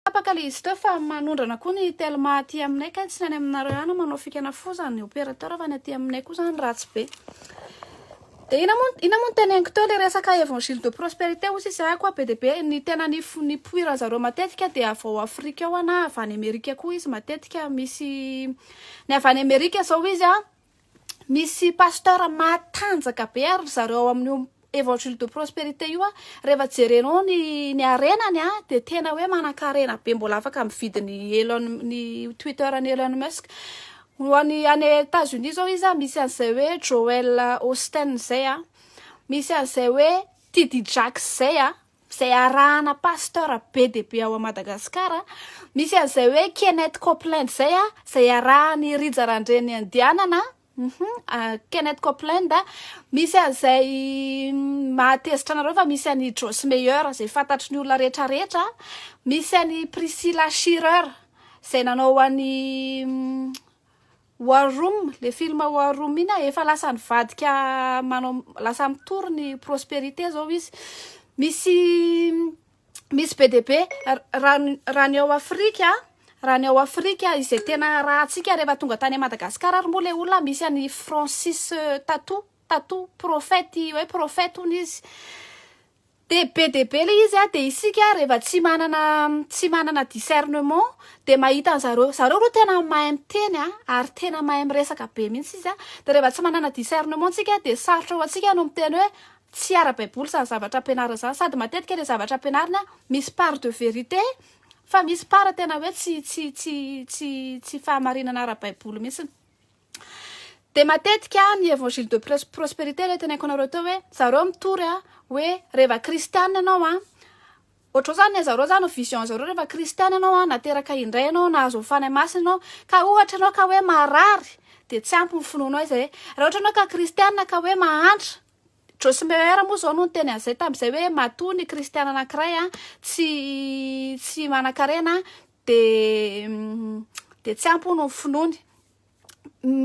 Tapaka le izy teo fa manondrana koa ny telma aty aminay kay tsy ny any aminareo ihany no manao fikana foza ny opérateur fa ny aty aminay koa zany ratsy be de ina moa ina moa ny teneniko teo le resaka évangile de prospérité hoy sisa ahy koa be de be ny tena ny ny poiran zareo matetika de avy ao afrika ao na avy any amerika koa izy matetika misy ny avy any amerika zao izy a misy pasteur matanjaka be ary ry zareo ao amin'io évangile de prospérité io a rehefa jerenao ny ny harenany a dia tena hoe manan-karena be mbola afaka mividy ny Elon ny Twitter an'i Elon Musk ho an'i any États-Unis zao izy a misy an'izay hoe Joel Austin zay a misy an'izay hoe TD Jakes zay a izay arahana pasteur be dia be ao Madagascar a, misy an'izay hoe Kenneth Copeland izay a, izay arahan'i Rija Randrianandianana a, Kenneth Copeland, misy an'izay mahatezitra anareo fa misy an'i Joss Meyer izay fantatry ny olona rehetra rehetra, misy an'i Priscilla Shirer izay nanao an'i War room, le film war room iny a, efa lasa nivadika manao lasa mitory ny prosperité zao izy, misy misy be dia be raha ny raha ny ao Afrika a, raha ny ao Afrika izay tena arahantsika rehefa tonga tany Madagascar ary moa le olona misy an'i Francis Tatou, Tatou prophète hoe prophète hono izy, Dia be dia be ilay izy a, dia isika rehefa tsy manana tsy manana discernement dia mahita an'zareo, zareo aloha tena mahay miteny a, ary tena mahay miresaka be mihitsy izy a, dia rehefa tsy manana discernement tsika dia sarotra ho antsika no miteny hoe tsy ara baiboly izany zavatra ampianarina izany, sady matetika ilay zavatra ampianarina misy part de vérité fa misy part tena hoe tsy tsy tsy tsy tsy fahamarinana ara baiboly mihitsy. Dia matetika ny Evangile de prosperité ilay teneniko anareo teo hoe zareo mitory a, hoe reva kristiana ianao a, ohatrao zany ny zareo zany vision zareo reva kristiana ianao a, nateraka indray ianao, nahazo ny Fanahy Masina ianao, ka ohatra ianao ka hoe marary dia tsy ampy ny finoanao izay, raha ohatra ianao ka kristiana ka hoe mahantra Joyce Meyer moa zao no niteny an'izay tamin'izay hoe matoa ny kristiana anankiray a tsy tsy manan-karena dia dia tsy ampy hono ny finoany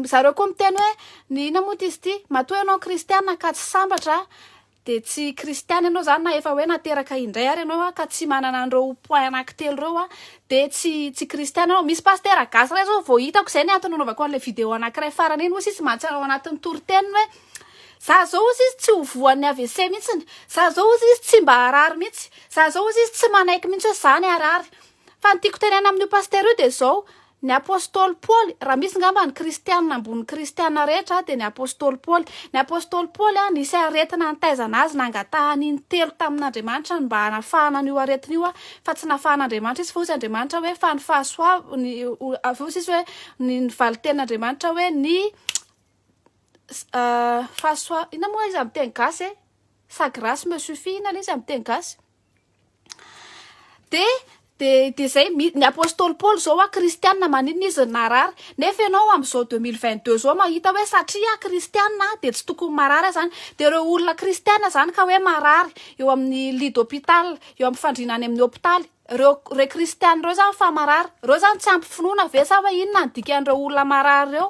zareo koa miteny hoe ny ina moa izy ity matoa ianao kristiana ka tsy sambatra dia tsy kristiana ianao zany na efa hoe nateraka indray ary ianao ka tsy manana an'ireo point anankitelo ireo a dia tsy tsy kristiana ianao misy pastera gasy iray zao vao hitako izay ny antony nanaovako an'ilay video anankiray farany iny hozy izy mantsy ao anatin'ny toriteniny hoe za zao hozy izy tsy ho voan'ny AVC mihitsiny za zao hozy izy tsy mba harary mihitsy za zao hozy izy tsy manaiky mihitsy hoe zany harary fa ny tiako tenena amin'io pastera io dia zao Ny apostoly Paoly, raha misy ngamba ny kristiana ambony ny kristiana rehetra dia ny apostoly Paoly. Ny apostoly Paoly nisy aretina nitaizana azy nangatahany intelo tamin'Andriamanitra ny mba hanafahana an'io aretina io fa tsy nafahan'Andriamanitra izy fa hoy izy Andriamanitra hoe fa ny fahasoavany hoy izy hoe ny valin-tenin'Andriamanitra hoe ny fahasoa inona moa izy amin'ny teny gasy e sa grace me suffit inona ilay izy amin'ny teny gasy de de de zay ny apostoly Paoly zao a kristiana maninona izy no narary nefa ianao amin'izao deux mille vingt deux zao mahita hoe satria ah kristiana ah de tsy tokony marary ah zany de reo olona kristiana zany ka hoe marary eo amin'ny lit d'hôpital eo amin'ny fandriana any amin'ny hôpitaly reo re kristiana reo zany fa marary reo zany tsy ampy finoana ve sa hoe inona ny dikan'ireo olona marary reo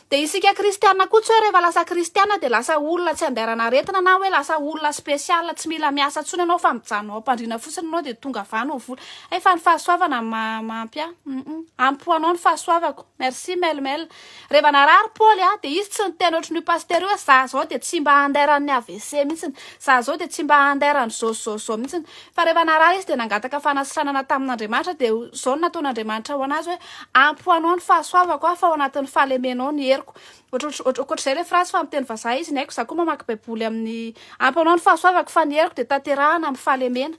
Dia isika kristiana koa tsy hoe rehefa lasa kristiana dia lasa olona tsy andairana aretina na hoe lasa olona spécial tsy mila miasa intsony ianao fa mijanona ao am-pandriana fotsiny ianao dia tonga avy any ho vola. Hay fa ny fahasoavana no mahampy ahy. Ampy ho anao ny fahasoavako. Merci Mel Mel. Rehefa narary Paoly a dia izy tsy niteny ohatrin'io pasitera io hoe za zao dia tsy mba andairan'ny AVC mihitsy. Za zao dia tsy mba andairan'izao zao zao mihitsy. Fa rehefa narary izy dia nangataka fanasitranana tamin'Andriamanitra, dia izao no nataon'Andriamanitra ho an'azy hoe, ampy ho anao ny fahasoavako aho, fa ao anatin'ny fahalemenao ny heriko. Ohatrotr- Ankoatr'izay ilay phrase fa miteny vazaha izy, ny aiko izaho koa mamaky baiboly amin'ny ampy ho anao ny fahasoavako fa ny heriko dia tanterahana amin'ny fahalemena.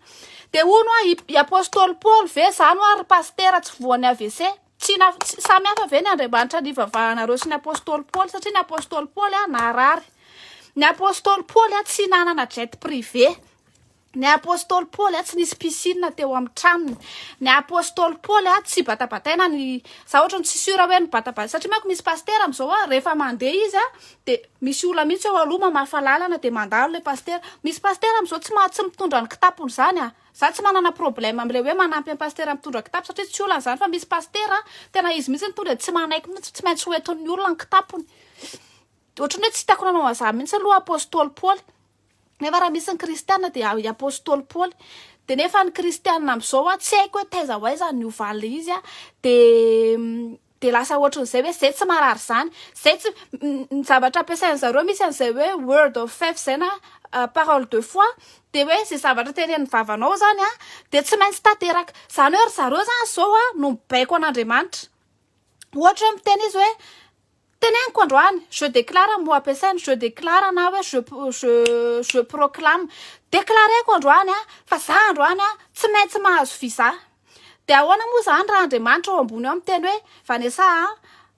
Dia hono hoa, i i apostoly Paoly ve izany hoa ry pasitera tsy voan'ny AVC? Tsy na, tsy, samy hafa ve ny Andriamanitra nivavahanareo sy ny apostoly Paoly? Satria ny apostoly Paoly an, narary. Ny apostoly Paoly an, tsy nanana jet privé. Ny apostoly Paoly a tsy nisy piscine teo amin'ny tranony. Ny apostoly Paoly a tsy batabataina ny za ohatra ny tsy sûr hoe nibatabata satria manko misy pasitera amin'izao a rehefa mandeha izy a de misy olona mihitsy eo aloha mamafa lalana de mandalo le pasitera. Misy pasitera amin'izao tsy maha tsy mitondra ny kitapony izany a. Za tsy manana problème amin'ilay hoe manampy an'i pasitera mitondra kitapo satria tsy olana izany fa misy pasitera tena izy mihitsy no tonga dia tsy manaiky mihitsy fa tsy maintsy hoentin'ny olona ny kitapony. Ohatran'ny hoe tsy hitako nanao an'izany mihitsy aloha apostoly Paoly. Nefa raha misy ny kristiana dia i apostoly Paoly. Dia nefa ny kristiana amin'izao tsy haiko hoe taiza ho aiza ny hovalin'ilay izy a. Dia dia lasa ohatran'izay hoe izay tsy marary izany. Izay tsy ny zavatra ampiasain'ny zareo misy an'izay hoe word of faith izay na euh, parole de foi dia hoe izay zavatra teren'ny vavanao izany a dia tsy maintsy tanteraka. Izany hoe ry zareo izany izao a no mibaiko an'Andriamanitra. Ohatra hoe miteny izy hoe Teneniko androany, je déclare moa ampiasainy je déclare na hoe je je je proclame. Déclareko androany aho fa za androany aho tsy maintsy mahazo visa. Dia ahoana moa izany raha Andriamanitra ao ambony ao miteny hoe Vanessa a,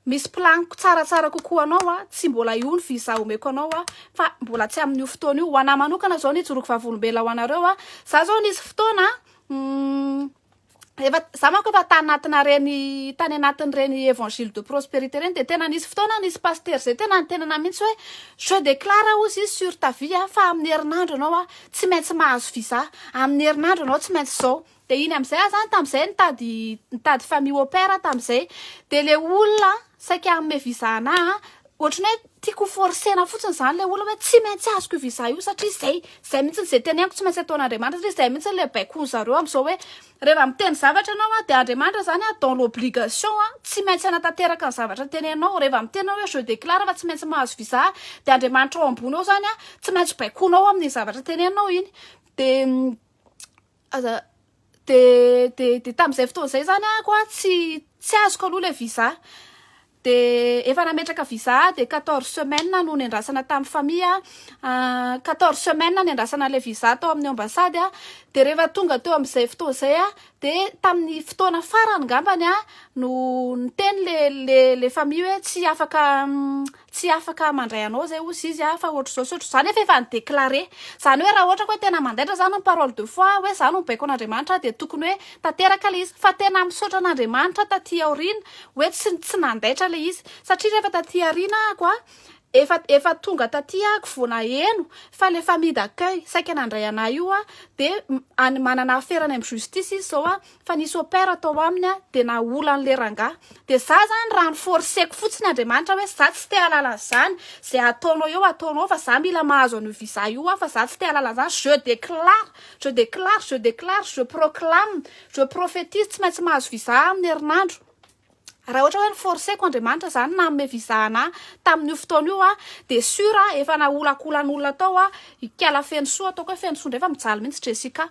misy planiko tsaratsara kokoa ho anao a, tsy mbola io ny visa omeko anao a, fa mbola tsy amin'io fotoana io. Ho anà manokana izao ny hijoroako vavolombelona ho anareo a, za izao nisy fotoana efa za manko efa tany anatina reny tany anatin' reny évangile de prospérité reny de tena nisy fotoana nisy pasteur zay tena nitenana mihitsy hoe je déclare ozy sur ta vie a fa amin'ny herinandro ianao a tsy maintsy mahazo visa amin'ny herinandro ianao tsy maintsy zao de iny amin'izay aho zany tamin'izay nitady nitady famille au pair aho tamin'izay de le olona saika hanome visa anahy ohatran'ny hoe Tiako ho forcer-na fotsiny izany ilay olona hoe tsy maintsy azoko io visa io satria izay, izay mihitsy izay teneniko tsy maintsy ataon'Andriamanitra satria izay mihitsy ilay baikoin-dry zareo amin'izao hoe rehefa miteny zavatra ianao dia Andriamanitra izany dans l'obligation tsy maintsy hanatanteraka ny zavatra teneninao. Rehefa miteny ianao hoe je déclare fa tsy maintsy mahazo visa dia Andriamanitra ao ambony ao izany tsy maintsy baikoinao amin'iny zavatra teneninao iny. Dia Aza de de de tamin'izay fotoana izay zany ah koa tsy tsy azoko aloha le visa de efa nametraka visa de 14 semaines no nendrasana tamin'ny famille ah 14 semaines nendrasana le visa tao amin'ny ambassade ah de rehefa tonga teo amin'izay fotoana izay ah de tamin'ny fotoana farany ngambany ah no niteny le le le famille hoe tsy afaka Tsy afaka mandray anao zay ozy izy a, fa ohatr'izao sy ohatr'izao, zany efa efa ni-declarer. Zany hoe raha ohatra ka hoe tena mandaitra zany ny parole de foi hoe za no baiko an'Andriamanitra dia tokony hoe tanteraka le izy. Fa tena misaotra an'Andriamanitra taty aoriana hoe tsy tsy nandaitra le izy. Satria rehefa taty aoriana ako a, efa efa tonga taty ako vao naheno fa le famille d'accueil saika nandray anah io a, dia any manana afera any amin'ny justice izy zao a, fa nisy opère tao aminy dia nahola an'le rangahy, dia za zany raha ny forceko fotsiny Andriamanitra hoe za tsy te halala an'izany, ze ataonao eo ataonao ao fa za mila mahazo an'io visa io aho fa za tsy te halala an'izany, je déclare, je déclare, je déclare, je proclame, je prophétise tsy maintsy mahazo visa aho amin'ny herinandro. Raha ohatra hoe ni-forcer-ko Andriamanitra izany nanome visa anah tamin'io fotoana io aho dia sur aho efa naholankolan'olona tao aho, ikala feno soa, ataoko hoe feno soa indray fa mijaly mihitsy Jessica,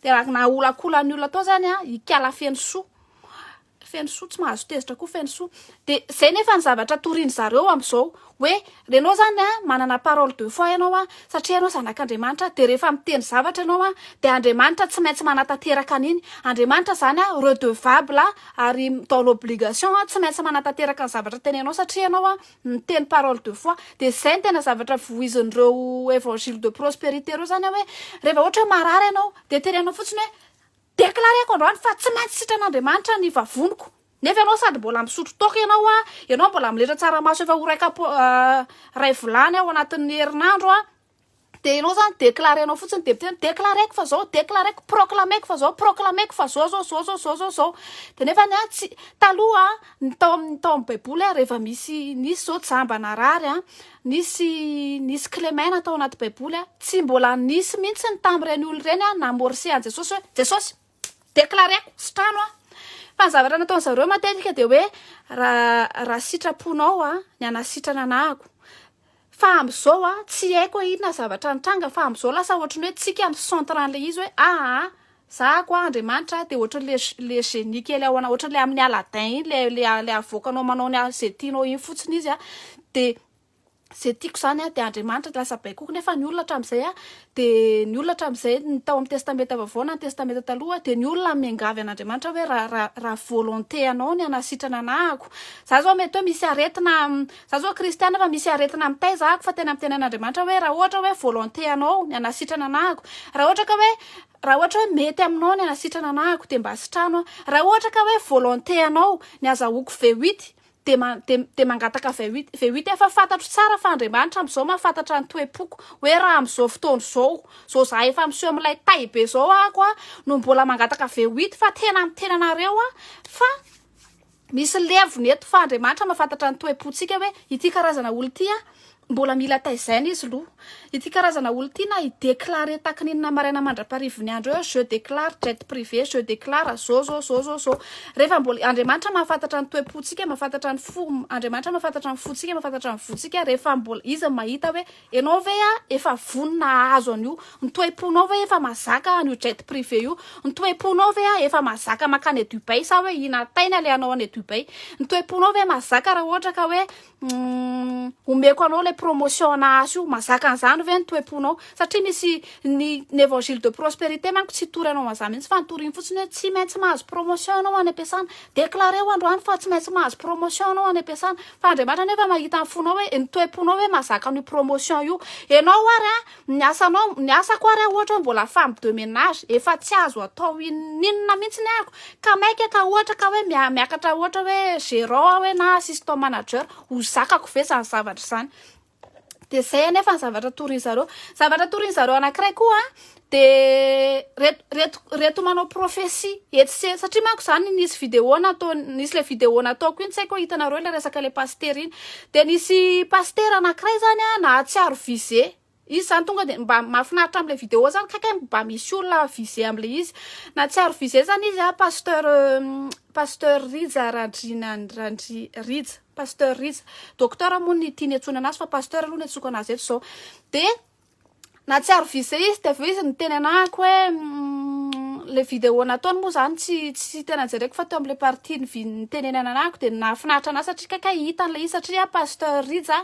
dia raha naholankolan'ny olona tao izany aho, ikala feno soa, feno soa, tsy mahazo tezitra koa feno soa, dia izay nefa ny zavatra torian'izareo amin'izao, Hoe renao zany a manana parole de foi ianao a satria ianao zanak'Andriamanitra dia rehefa miteny zavatra ianao a dia Andriamanitra tsy maintsy manatanteraka an'iny Andriamanitra zany a redevable a ary dans l'obligation a tsy maintsy manatanteraka ny zavatra tenenao satria ianao a miteny parole de foi dia zay no tena zavatra vohizin'ireo evangile de prosperite ireo zany a hoe rehefa ohatra hoe marary ianao dia tenenao fotsiny hoe declareko androany fa tsy maintsy sitran'Andriamanitra ny vavoniko Nefa ianao sady mbola misotro toaka ianao a, ianao mbola miletra tsaramaso efa ho ray kap ray vilany ao anatin'ny herinandro a, dia ianao zany déclarer-nao fotsiny député hoe déclarer-ko fa zao, déclarer-ko, proclamer-ko fa zao, proclamer-ko fa zao zao, zao zao, zao zao, zao. Dia nefany a tsy, taloha a, ny tao amin'ny tao amin'ny baiboly a rehefa misy nisy zao jamba narary a, nisy nisy kilemaina tao anaty baiboly a, tsy mbola nisy mihitsy ny tamin'ireny olona ireny a namorse an'i Jesosy hoe Jesosy, Déclareko tsy trano an! Fa ny zavatra nataon'ny zareo matetika dia hoe raha raha sitraponao an ny hanasitrana anahako. Fa amin'izao an tsy haiko hoe inona zavatra nitranga fa amin'izao lasa ohatry ny hoe tsika ny centre an'ilay izy hoe ah ah za ko an Andriamanitra dia ohatry le le génie kely ao anao ohatry le amin'ny Aladdin iny le le le avoakanao manao ny izay tianao iny fotsiny izy an dia Ze tiako izany an, dia Andriamanitra dia lasa baikoiko, nefa ny olona hatramin'izay an, dia ny olona hatramin'izay, ny tao amin'ny Testamenta Vaovao na ny Testamenta Taloha, dia ny olona miangavy an'Andriamanitra hoe raha raha raha volonté anao ny hanasitrana anahako, za zao mety hoe misy aretina, za zao kristiana fa misy aretina mitaiza ahako fa tena miteny an'Andriamanitra hoe raha ohatra hoe volonté anao ny hanasitrana anahako, raha ohatra ka hoe raha ohatra hoe mety aminao ny hanasitrana anahako dia mba asitrano aho, raha ohatra ka hoe volonté anao ny azahoako V8 dia man, dia, dia mangataka V8, V8 efa fantatro tsara fa Andriamanitra amin'izao mahafantatra ny toe-poko, hoe raha amin'izao fotoana izao, izao za efa miseho amin'ilay tay be izao ako a, no mbola mangataka V8 fa tena miteny anareo a, fa misy levona eto fa Andriamanitra mahafantatra ny toe-pontsika hoe ity karazana olona ity a, Mbola mila taizaina izy lo. Ity karazana olo ty na i declare takininina maraina mandraparivony andro eo je declare jet privé je declare zo zo zo zo zo refa mbola Andriamanitra mahafantatra ny toepo tsika mahafantatra ny fo Andriamanitra mahafantatra ny fo tsika mahafantatra ny vo tsika refa mbola izy mahita hoe enao ve a efa vonona ahazo an'io ny toepo nao ve efa mazaka an'io jet privé io ny toepo nao ve a efa mazaka makany Dubai sa hoe ina taina le anao any Dubai ny toepo nao ve mazaka raha ohatra ka hoe Humm omeko anao le promotion ana azy io mazaka an'izany ve ny toe-ponao satria misy ny ny évangile de prospérité manko tsy hitory anao an'izany mihitsy fa nitoriny fotsiny hoe tsy maintsy mahazo promotion ianao any am-piasana déclareo androany fa tsy maintsy mahazo promotion ianao any am-piasana fa Andriamanitra nefa mahita ny fonao hoe ny toe-ponao hoe mazaka an'io promotion io ianao ary an Ny asanao, ny asako ary aho ohatra hoe mbola femme de ménage, efa tsy azo atao inon'inona mihitsy ny ahiko, ka maika ka ohatra ka hoe miakatra ohatra hoe gérant aho hoe na assistant manager, ho zakako ve izany zavatra izany? dia izay anefa ny zavatra torin-dry zareo. Zavatra torin-dry zareo anankiray koa dia reto reto reto manao prophetie etsy sy eroa, satria manko izany nisy vidéo nataony, nisy ilay vidéo nataoko iny, tsy haiko hoe hitanareo ilay resaka ilay pasitera iny, Dia nisy pasitera anakiray zany an nahatsiaro visé izy zany tonga dia mba mahafinaritra amle vidéo zany kay kay mba misy olona visé amle izy nahatsiaro visé zany izy an pasteur pasteur rija randriana randri rija pasteur rija docteur moa ny tiany hiantsoana anazy fa pasteur aloha no hiantsoako anazy eto zao dia nahatsiaro vise izy dia avy eo izy niteny anahako hoe le vidéo nataony moa zany tsy tsy tena jereko fa teo amle partie ny viny nitenenana anahako dia nahafinaritra anah satria kay kay hita an'ilay izy satria pasteur Rija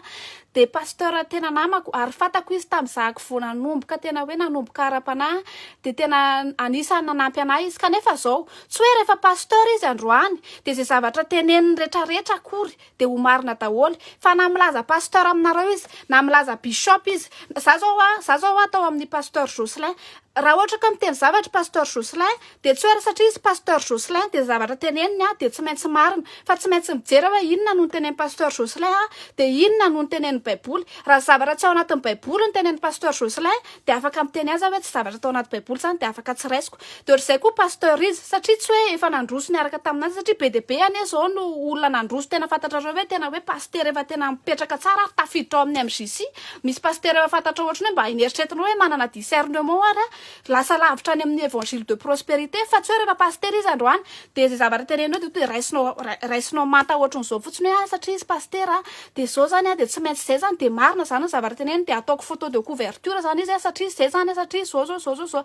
dia pasteur tena namako ary fantako izy tamizahako vao nanomboka tena hoe nanomboka ara-panahy dia tena anisany nanampy anah izy kanefa zao tsy hoe rehefa pasteur izy androany dia izay zavatra teneniny retraretra akory dia ho marina daholo fa na milaza pasteur aminareo izy na milaza bishop izy za zao a za zao a tao amin'ny pasteur Jocelyn raha ohatra ka miteny zavatra pasteur Jocelyn dia tsy hoe satria izy pasteur Jocelyn dia zavatra teneniny a dia tsy maintsy marina fa tsy maintsy mijery aho hoe inona no nitenen'i pasteur Jocelyn a dia inona no nitenen'ny baiboly raha zavatra tsy ao anatin'ny baiboly ny tenen'i pasteur Jocelyn dia afaka miteny azy aho hoe tsy zavatra tao anaty baiboly izany dia afaka tsy raisiko de otrzay koa pasteur izy satria tsy hoe efa nandroso niaraka tamin'azy satria be dia be anie izao no olona nandroso tena fantatrareo hoe tena hoe pasitera efa tena mipetraka tsara ary tafiditra ao amin'ny MJC misy pasitera efa fantatrao ohatrany hoe mba neritreretinao hoe manana discernement ary aho lasa lavitra any amin'ny évangile de prospérité fa tsy hoe rehefa pasitera izy androany dia izay zavatra teneniny hoe dia raisinao raisinao manta ohatran'izao fotsiny hoe ah satria izy pasitera Dia zao zany an, dia tsy maintsy izay zany, dia marina zany ny zavatra teneniny, dia ataoko photo de couverture zany izy an, satria izay zany an, satria zao zao zao zao,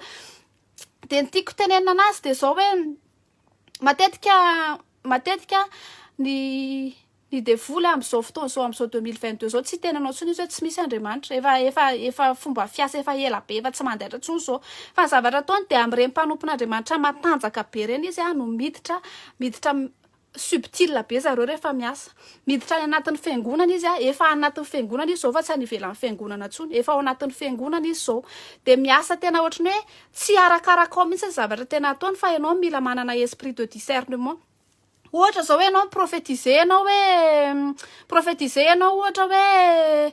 dia ny tiako tenenina anazy dia zao hoe, matetika matetika ny ny devoly amin'izao fotoana izao amin'izao deux mille vingt deux izao tsy hiteny anao intsony izy hoe tsy misy Andriamanitra efa efa efa fomba fiasa efa ela be efa tsy mandaitra intsony izao fa ny zavatra ataony dia amin'ireny mpanompon'Andriamanitra matanjaka be ireny izy no miditra miditra Subtil be zareo rehefa miasa. Miditra any anatin'ny fiangonana izy a, efa any anatin'ny fiangonana izy zao fa tsy any ivelan'ny fiangonana intsony, efa ao anatin'ny fiangonana izy zao. Dia miasa tena ohatran'ny hoe tsy arakaraka ao mihitsy ny zavatra tena ataony fa ianao mila manana esprit de discernement. Ohatra zao hoe ianao mi-prophétiser ianao hoe mi-prophétiser ianao ohatra hoe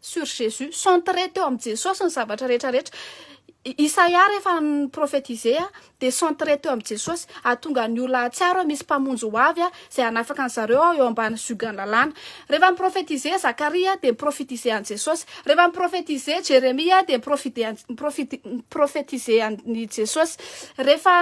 sur Jesus, centrer teo amin'i Jesosy ny zavatra rehetra rehetra. Isaia rehefa ni-prophétiser dia centrer teo amin'i Jesosy, hahatonga ny olona hahatsiaro hoe misy mpamonjy ho avy izay hanafaka an'i zareo eo ambany ziogan'ny lalàna. Rehefa ni-prophétiser Zakaria dia ni-prophétiser an'i Jesosy. Rehefa ni-prophétiser Jeremia dia ni-prophétiser an'i Jesosy. Rehefa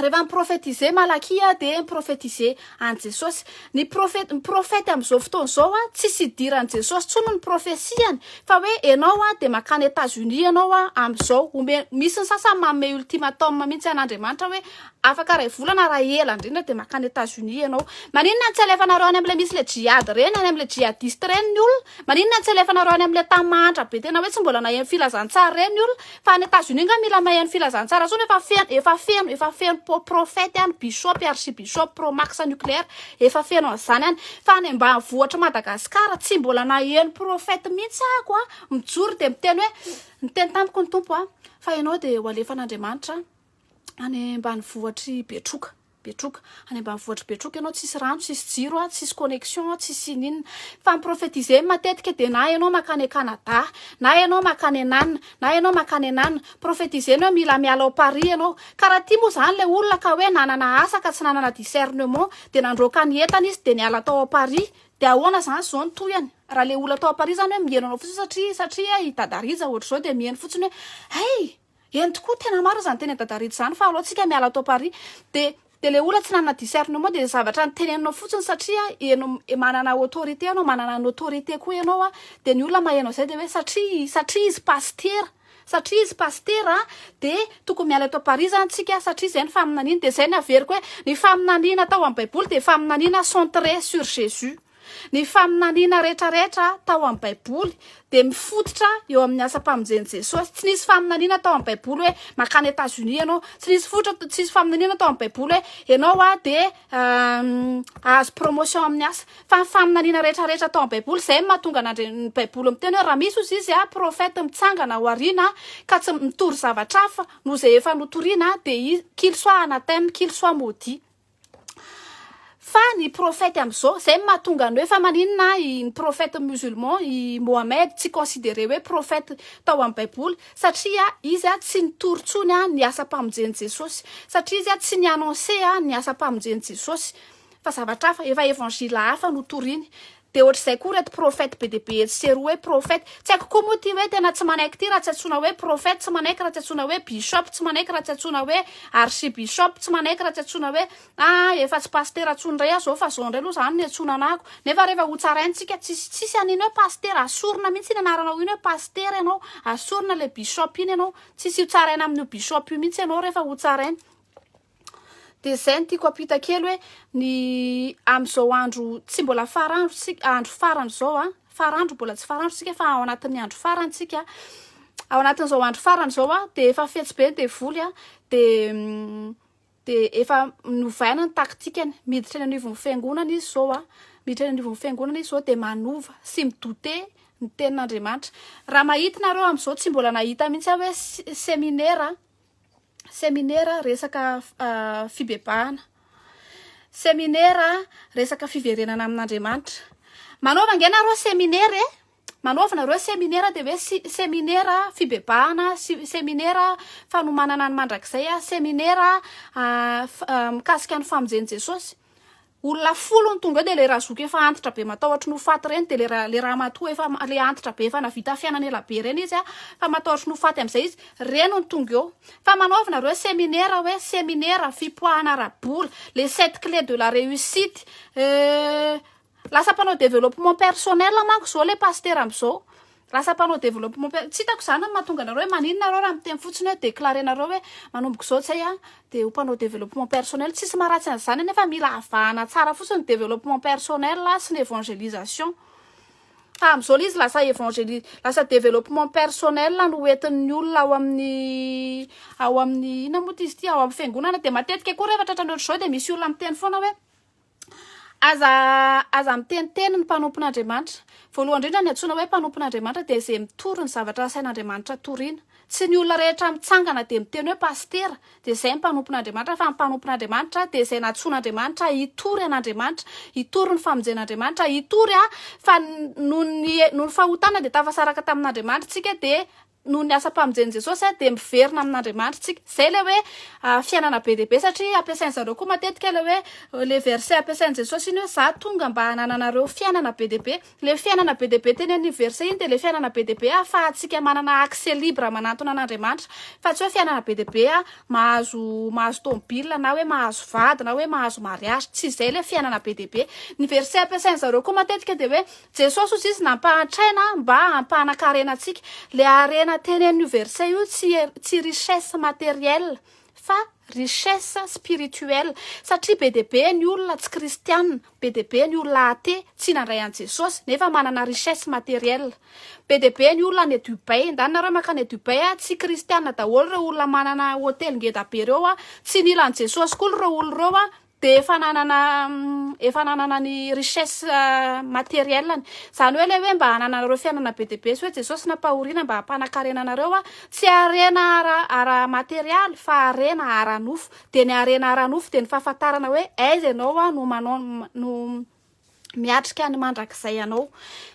Rehefa mi-prophétiser Malakia aho dia mi-prophétiser an'i Jesosy. Ny prophète, ny prophète amin'izao fotoana izao a, tsisy idiran'i Jesosy intsony ny prophetie-ny. Fa hoe ianao a dia mankany Etats Unis ianao a amin'izao. Ome, misy ny sasany manome ultimatum mihitsy an'Andriamanitra hoe afaka iray volana raha ela indrindra dia mankany Etats Unis ianao. Maninona no tsy alefanareo any amin'ilay misy ilay djihad ireny, any amin'ilay djihadiste ireny ny olona? Maninona no tsy alefanareo any amin'ilay tany mahantra be tena hoe tsy mbola naheno filazantsara ireny ny olona? Fa any Etazonia nga mila mahay any filazantsara tsony efa feno efa feno efa feno po prophète any bishop archibishop pro max nucléaire efa feno an'izany any fa any ambanivohitr'i Madagascar tsy mbola naheno prophète mihitsy aako a mijoro dia miteny hoe niteny tamiko ny Tompo a fa ianao dia ho alefan'Andriamanitra any ambanivohitr'i Betroka Betroka. Any ambanivohitr'i Betroka ianao tsisy rano, tsisy jiro a, tsisy connexion a, tsisy ininona. Fa mi-prophétiser matetika dia na ianao mankany Canada, na ianao mankany an'anona, na ianao mankany an'anona. Prophétiser ny hoe mila miala ao Paris ianao. Karaha ity moa izany ilay olona ka hoe nanana asa ka tsy nanana discernement dia nandroaka ny entana izy dia niala tao ao Paris. Dia ahoana izany izao ny tohiny? Raha ilay olona tao Paris izany hoe miheno anao fotsiny satria, satria i Dada Rija ohatr'izao dia miheno fotsiny hoe hay! Eny tokoa tena marina zany teny dada Rich zany fa alou tsika miala ato Paris de de le olona tsy nanana discernement de zavatra niteneninao fotsiny satria eno manana autorité anao manana ny autorité koa enao a de ny olona mahenao zay de hoe satria satria izy pasitera satria izy pasitera a de tokony miala ato Paris zany tsika satria zay ny faminaniany de zay ny averiko hoe ny faminaniana atao am baiboly de faminaniana centré sur Jesus. Ny faminaniana rehetrarehetra tao amin'ny Baiboly dia mifototra eo amin'ny asam-pamonjen'i Jesosy. Tsy nisy faminaniana tao amin'ny Baiboly hoe makany Etazonia ianao. Tsy nisy fototra, tsy nisy faminaniana tao amin'ny Baiboly hoe ianao ah, dia hahazo promotion amin'ny asa. Fa ny faminaniana rehetrarehetra tao amin'ny Baiboly, izay mahatonga an'Andri- ny Baiboly miteny hoe raha misy hozy izy ah, prophète mitsangana ao aoriana ka tsy mitory zavatra hafa noho izay efa notoriana dia izy, qu'il soit anathème, qu'il soit maudit. Fa ny prophète amzao zay no mahatonga ny hoe fa maninona ny prophète musulman i Mohamed tsy considerer hoe prophète tao amin'ny baiboly satria izy tsy nitory tsony ny asam-pamonjen'i Jesosy satria izy tsy ni-annoncer ny asam-pamonjen'i Jesosy fa zavatra hafa efa évangile hafa no toriny Dia ohatr'izay koa reto prophète be dia be etsy sy eroa hoe prophète. Tsy haiko koa moa ity hoe tena tsy manaiky ity raha tsy antsoina hoe prophète, tsy manaiky raha tsy antsoina hoe bishop, tsy manaiky raha tsy antsoina hoe archibishop, tsy manaiky raha tsy antsoina hoe ah efa tsy pasitera intsony indray aho izao fa izao indray aloha izany ny antsoina anahako. Nefa rehefa hotsaraintsika, tsisy tsisy an'iny hoe pasitera, asorina mihitsy iny anaranao iny hoe pasitera ianao, asorina ilay bishop iny ianao, tsisy hotsaraina amin'io bishop io mihitsy ianao rehefa hotsaraina. Dia izay no tiako hampita kely hoe ny amin'izao andro tsy mbola farandro isika, andro farany izao a, farandro mbola tsy farandro isika fa ao anatin'ny andro farany isika, ao anatin'izao andro farany izao a dia efa fetsy be ny devoly a dia dia efa novaina ny taktikany, miditra eny anivon'ny fiangonana izy izao a, miditra eny anivon'ny fiangonana izy izao dia manova sy mi douter ny tenin'Andriamanitra. Raha mahita ianareo amin'izao tsy mbola nahita mihitsy aho hoe se- seminera Seminera resaka fibebahana. Seminera resaka fiverenana amin'Andriamanitra. Manaova ange nareo seminera e. Manaova nareo seminera dia hoe seminera fibebahana, seminera fanomanana ny mandrakizay, seminera mikasika ny famonjen'i Jesosy. Olona folo no tonga eo dia le razoky efa antitra be matahotry ny ho faty reny dia le le ramatoa efa le antitra be efa navita fiainana ela be reny izy a fa matahotry ny ho faty amizay izy reny no tonga eo fa manaova nareo seminera hoe seminera fipoahana ara bola le sept clé de la reussite euh lasa mpanao developpement personnel manko zao le pasitera amizao Lasa mpanao développement per-, tsy hitako izany ny mahatonga anareo hoe maninona nareo raha miteny fotsiny hoe déclarer nareo hoe manomboka izao zay aho dia ho mpanao développement personnel, tsisy maharatsy an'izany anefa mila avahana tsara fotsiny ny développement personnel sy ny évangélisation fa amin'izao ilay izy lasa évangéli-, lasa développement personnel no ho entin'ny olona ao amin'ny ao amin'ny inona moa ity izy ity, ao amin'ny fiangonana dia matetika koa rehefa tratra ny ohatr'izao dia misy olona miteny foana hoe. Aza aza miteniteny ny mpanompon'Andriamanitra. Voalohany indrindra ny antsoina hoe mpanompon'Andriamanitra dia izay mitory ny zavatra asain'Andriamanitra toriana. Tsy ny olona rehetra mitsangana dia miteny hoe pasitera dia izay ny mpanompon'Andriamanitra fa ny mpanompon'Andriamanitra dia izay nantsoin'Andriamanitra hitory an'Andriamanitra, hitory ny famonjen'Andriamanitra, hitory a fa noho ny noho ny fahotana dia tafasaraka tamin'Andriamanitra isika dia noho ny asam-pamonjen'i Jesosy dia miverina amin'Andriamanitra isika. Izay ilay hoe fiainana be dia be satria ampiasain-dry zareo koa matetika ilay hoe ilay verset ampiasain'i Jesosy iny hoe za tonga mba hanananareo fiainana be dia be. Ilay fiainana be dia be teny amin'iny verset iny dia ilay fiainana be dia be ahafahantsika manana accès libre manantona an'Andriamanitra fa tsy hoe fiainana be dia be mahazo mahazo tomobila na hoe mahazo vady na hoe mahazo mariage. Tsy izay ilay fiainana be dia be. Ny verset ampiasain-dry zareo koa matetika dia hoe Jesosy hoy izy nampahantraina mba hampanan-karena antsika. Ilay harena tenenin'io verset io tsy tsy richesse matérielle fa richesse spirituelle satria be dia be ny olona tsy kristiana, be dia be ny olona athée tsy nandray an'i Jesosy nefa manana richesse matérielle. Be dia be ny olona any Dubaï, ndany nareo mankany Dubaï a, tsy kristiana daholo ireo olona manana hotely ngeda be ireo a, tsy nila an'i Jesosy koa ireo olona ireo a, dia efa nanana efa nanana ny richesse matérielle any izany hoe ilay hoe mba hananareo fiainana be dia be sy hoe jesosy nampahoriana mba hampanakarena anareo a tsy harena ara ara materialy fa harena ara nofo dia ny harena ara nofo dia ny fahafantarana hoe aiza ianao a no manao no miatrika ny mandrakizay ianao.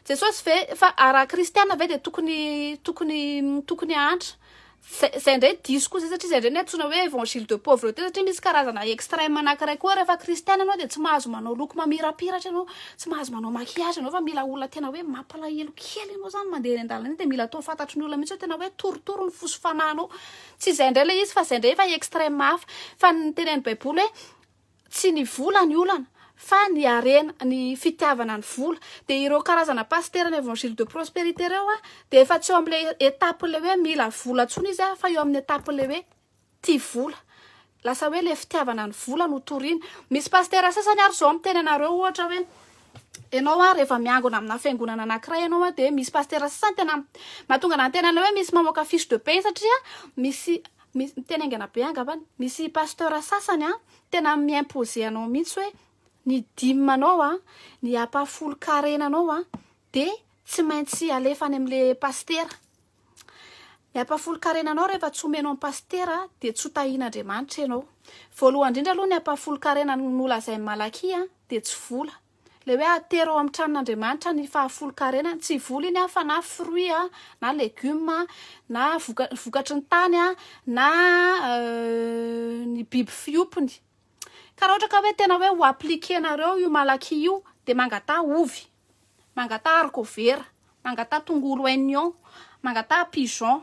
Jesosy ve, fa ah, raha kristiana ve dia tokony, tokony, tokony hahantra? Zay, zay ndray diso koa zay satria zay ndray ny antsoina hoe évangile de pauvreté satria misy karazana extrême anankiray koa rehefa kristiana ianao dia tsy mahazo manao loko mamirapiratra ianao, tsy mahazo manao maquillage ianao fa mila olona tena hoe mampalahelo kely ianao zany mandeha eny an-dalana eny dia mila atao fantatry ny olona mihitsy hoe tena hoe torotoro ny fo sy fanahinao. Tsy izay ndray ilay izy fa izay ndray efa extrême hafa. Fa ny tenenin'ny baiboly hoe Tsy ny vola ny olana fa ny harena, ny fitiavana ny vola. Dia ireo karazana pasitera ny Evangile de prosperité ireo dia efa tsy eo amin'ilay étape-n'ilay hoe mila vola intsony izy fa eo amin'ny étape-n'ilay hoe tia vola. Lasa hoe ilay fitiavana ny vola no toriany. Misy pasitera sasany ary izao miteny anareo ohatra hoe ianao ary rehefa miangona amina fiangonana anankiray ianao dia misy pasitera sasany tena mahatonga anà niteny anareo hoe misy mamoaka fiche de paie satria misy Misy miteny haingana be angambany. Misy pasteur sasany an, tena mi imposer anao mihitsy hoe ny dime anao an, ny ampahafolon-karena anao an, dia tsy maintsy alefa any amin'ilay pasitera. Ny ampahafolon-karena anao rehefa tsy omenao an'i pasitera dia tsy ho tahian'Andriamanitra ianao. Voalohany indrindra aloha ny ampahafolon-karena nolazain'i Malakia dia tsy vola. Ilay hoe atero ao amin'ny tranon'Andriamanitra ny fahafolonkarenany, tsy voliny aho fa na fruit a, na legume a, na voka- vokatry ny tany a, na euh, ny biby fiompiny. Ka raha ohatra ka hoe tena hoe ho appliquer-nareo io malaky io dia mangataha ovy, mangataha harikovera, mangataha tongolo oignon, mangataha pigeon,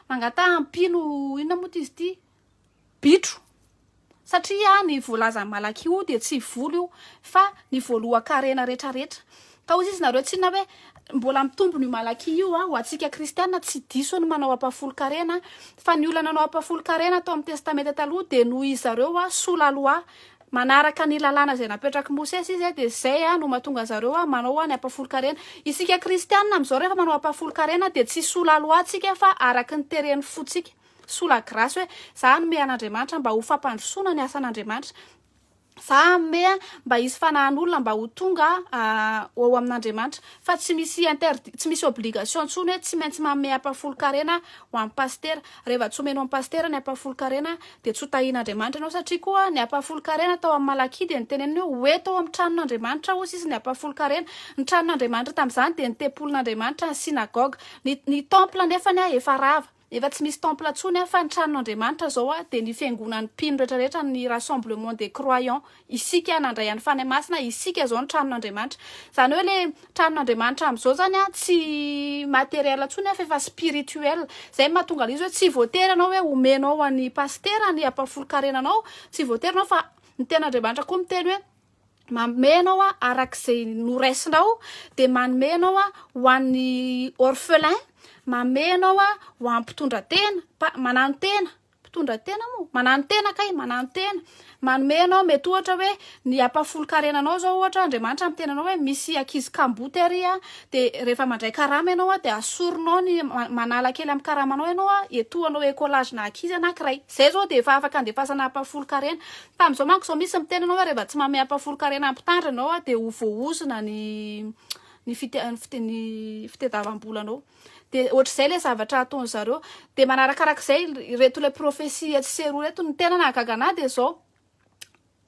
mangataha ampino inona moa ty izy ity? bitro satria ny voalazan'i Malaky io dia tsy volo io fa ny voalohan-karena retraretra ka hoy izy nareo tsy inona hoe mbola mitombona io Malaky io a ho antsika kristiana tsy diso ny manao ampahafolon-karena fa ny olona nanao ampahafolon-karena tao amin'ny testamenta taloha dia noho izy zareo a sous la loi manaraka ny lalàna izay napetrak'i Mosesy izy dia izay a no mahatonga zareo a manao a ny ampahafolon-karena isika kristiana amin'izao rehefa manao ampahafolon-karena dia tsy sous la loi tsika fa araka ny teren'ny fontsika sous la grâce hoe za hanome an'Andriamanitra mba ho fampandrosoana ny asan'Andriamanitra, za hanome mba hisy fanahin'olona mba ho tonga ao amin'Andriamanitra, fa tsy misy interdit, tsy misy obligation intsony hoe tsy maintsy manome ampahafolon-karena ho an'ny pasitera, rehefa tsy omena ho an'ny pasitera ny ampahafolon-karena dia tsy ho tahin'Andriamanitra ianao satria koa ny ampahafolon-karena tao amin'ny Malakia dia noteneniny hoe ho eto ao amin'ny tranon'Andriamanitra hozy izy ny ampahafolon-karena, ny tranon'Andriamanitra tamin'izany dia ny tempolin'Andriamanitra, ny synagogue, ny ny temple nefany efa rava. Efa tsy misy temple tsony an fa ny tranon Andriamanitra izao an dia ny fiangonan ny mpino rehetra rehetra ny rassemblement des croyant isika nandray an ny Fanahy Masina isika izao ny tranon Andriamanitra izany hoe le tranon Andriamanitra am zao zany an tsy materiel tsony an fa efa spirituel izay no mahatonga le izy hoe tsy voatery ianao hoe omenao an ny pasitera ny ampahafolon karena anao tsy voatery ianao fa ny tena Andriamanitra koa miteny hoe Manome ianao a, araka izay noraisinao, dia manome ianao a ho an'ny orphelin, manome ianao a ho an'ny mpitondra tena, mpa- manano tena, mpitondra tena moa, manano tena kay, manano tena, manome ianao mety ohatra hoe ny ampahafolon-karena anao zao ohatra Andriamanitra amin'ny tenanao hoe misy ankizy kamboty ary a, dia rehefa mandray karama ianao a dia asorinao ny ma- manala kely amin'ny karamanao ianao a, etoanao écolage na ankizy na ankiray, zay zao dia efa afaka andefasana ampahafolon-karena, Tamin'izao manko izao misy miteny anao hoe rehefa tsy manome ampahafolon-karena ny mpitandrina anao dia ho voaozona ny ny fite- ny fite- ny fitadiavam-bolanao. Dia ohatr'izay ilay zavatra ataony zareo. Dia manarakarak'izay ireto ilay profesia tsy seroa ireto. Ny tena nahagaga anahy dia izao,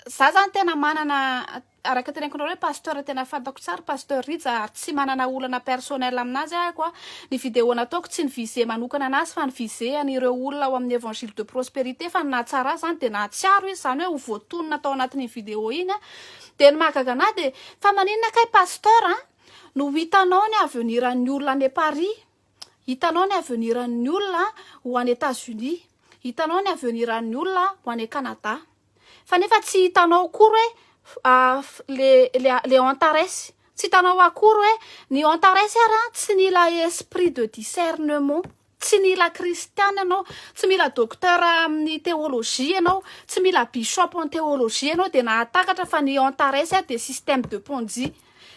za zany tena manana Araka tenenkonareo hoe pasteur tena fantako tsara pasteur Rija ary tsy manana olana personnel aminazy aho a, ny video nataoko tsy ny viser manokana anazy fa ny viser an'ireo olona ao amin'ny evangile de prosperité fa ny nahatsara azy zany dia nahatsiaro izy zany hoe ho voatonona tao anatin'iny video iny a, dia ny mahagaga anahy dia fa maninona kay pasteur a no hitanao ny avenir an'ny olona any Paris? Hitanao ny avenir an'ny olona ho any Etats Unis, hitanao ny avenir an'ny olona ho any Canada, fa nefa tsy hitanao akory hoe le le le Antares, tsy hitanao akory hoe ny Antares ary an tsy nila esprit de discernement, tsy nila kristiana ianao, tsy mila docteur amin'ny théologie ianao, tsy mila bishop en théologie ianao dia nahatakatra fa ny Antares dia système de ponzi.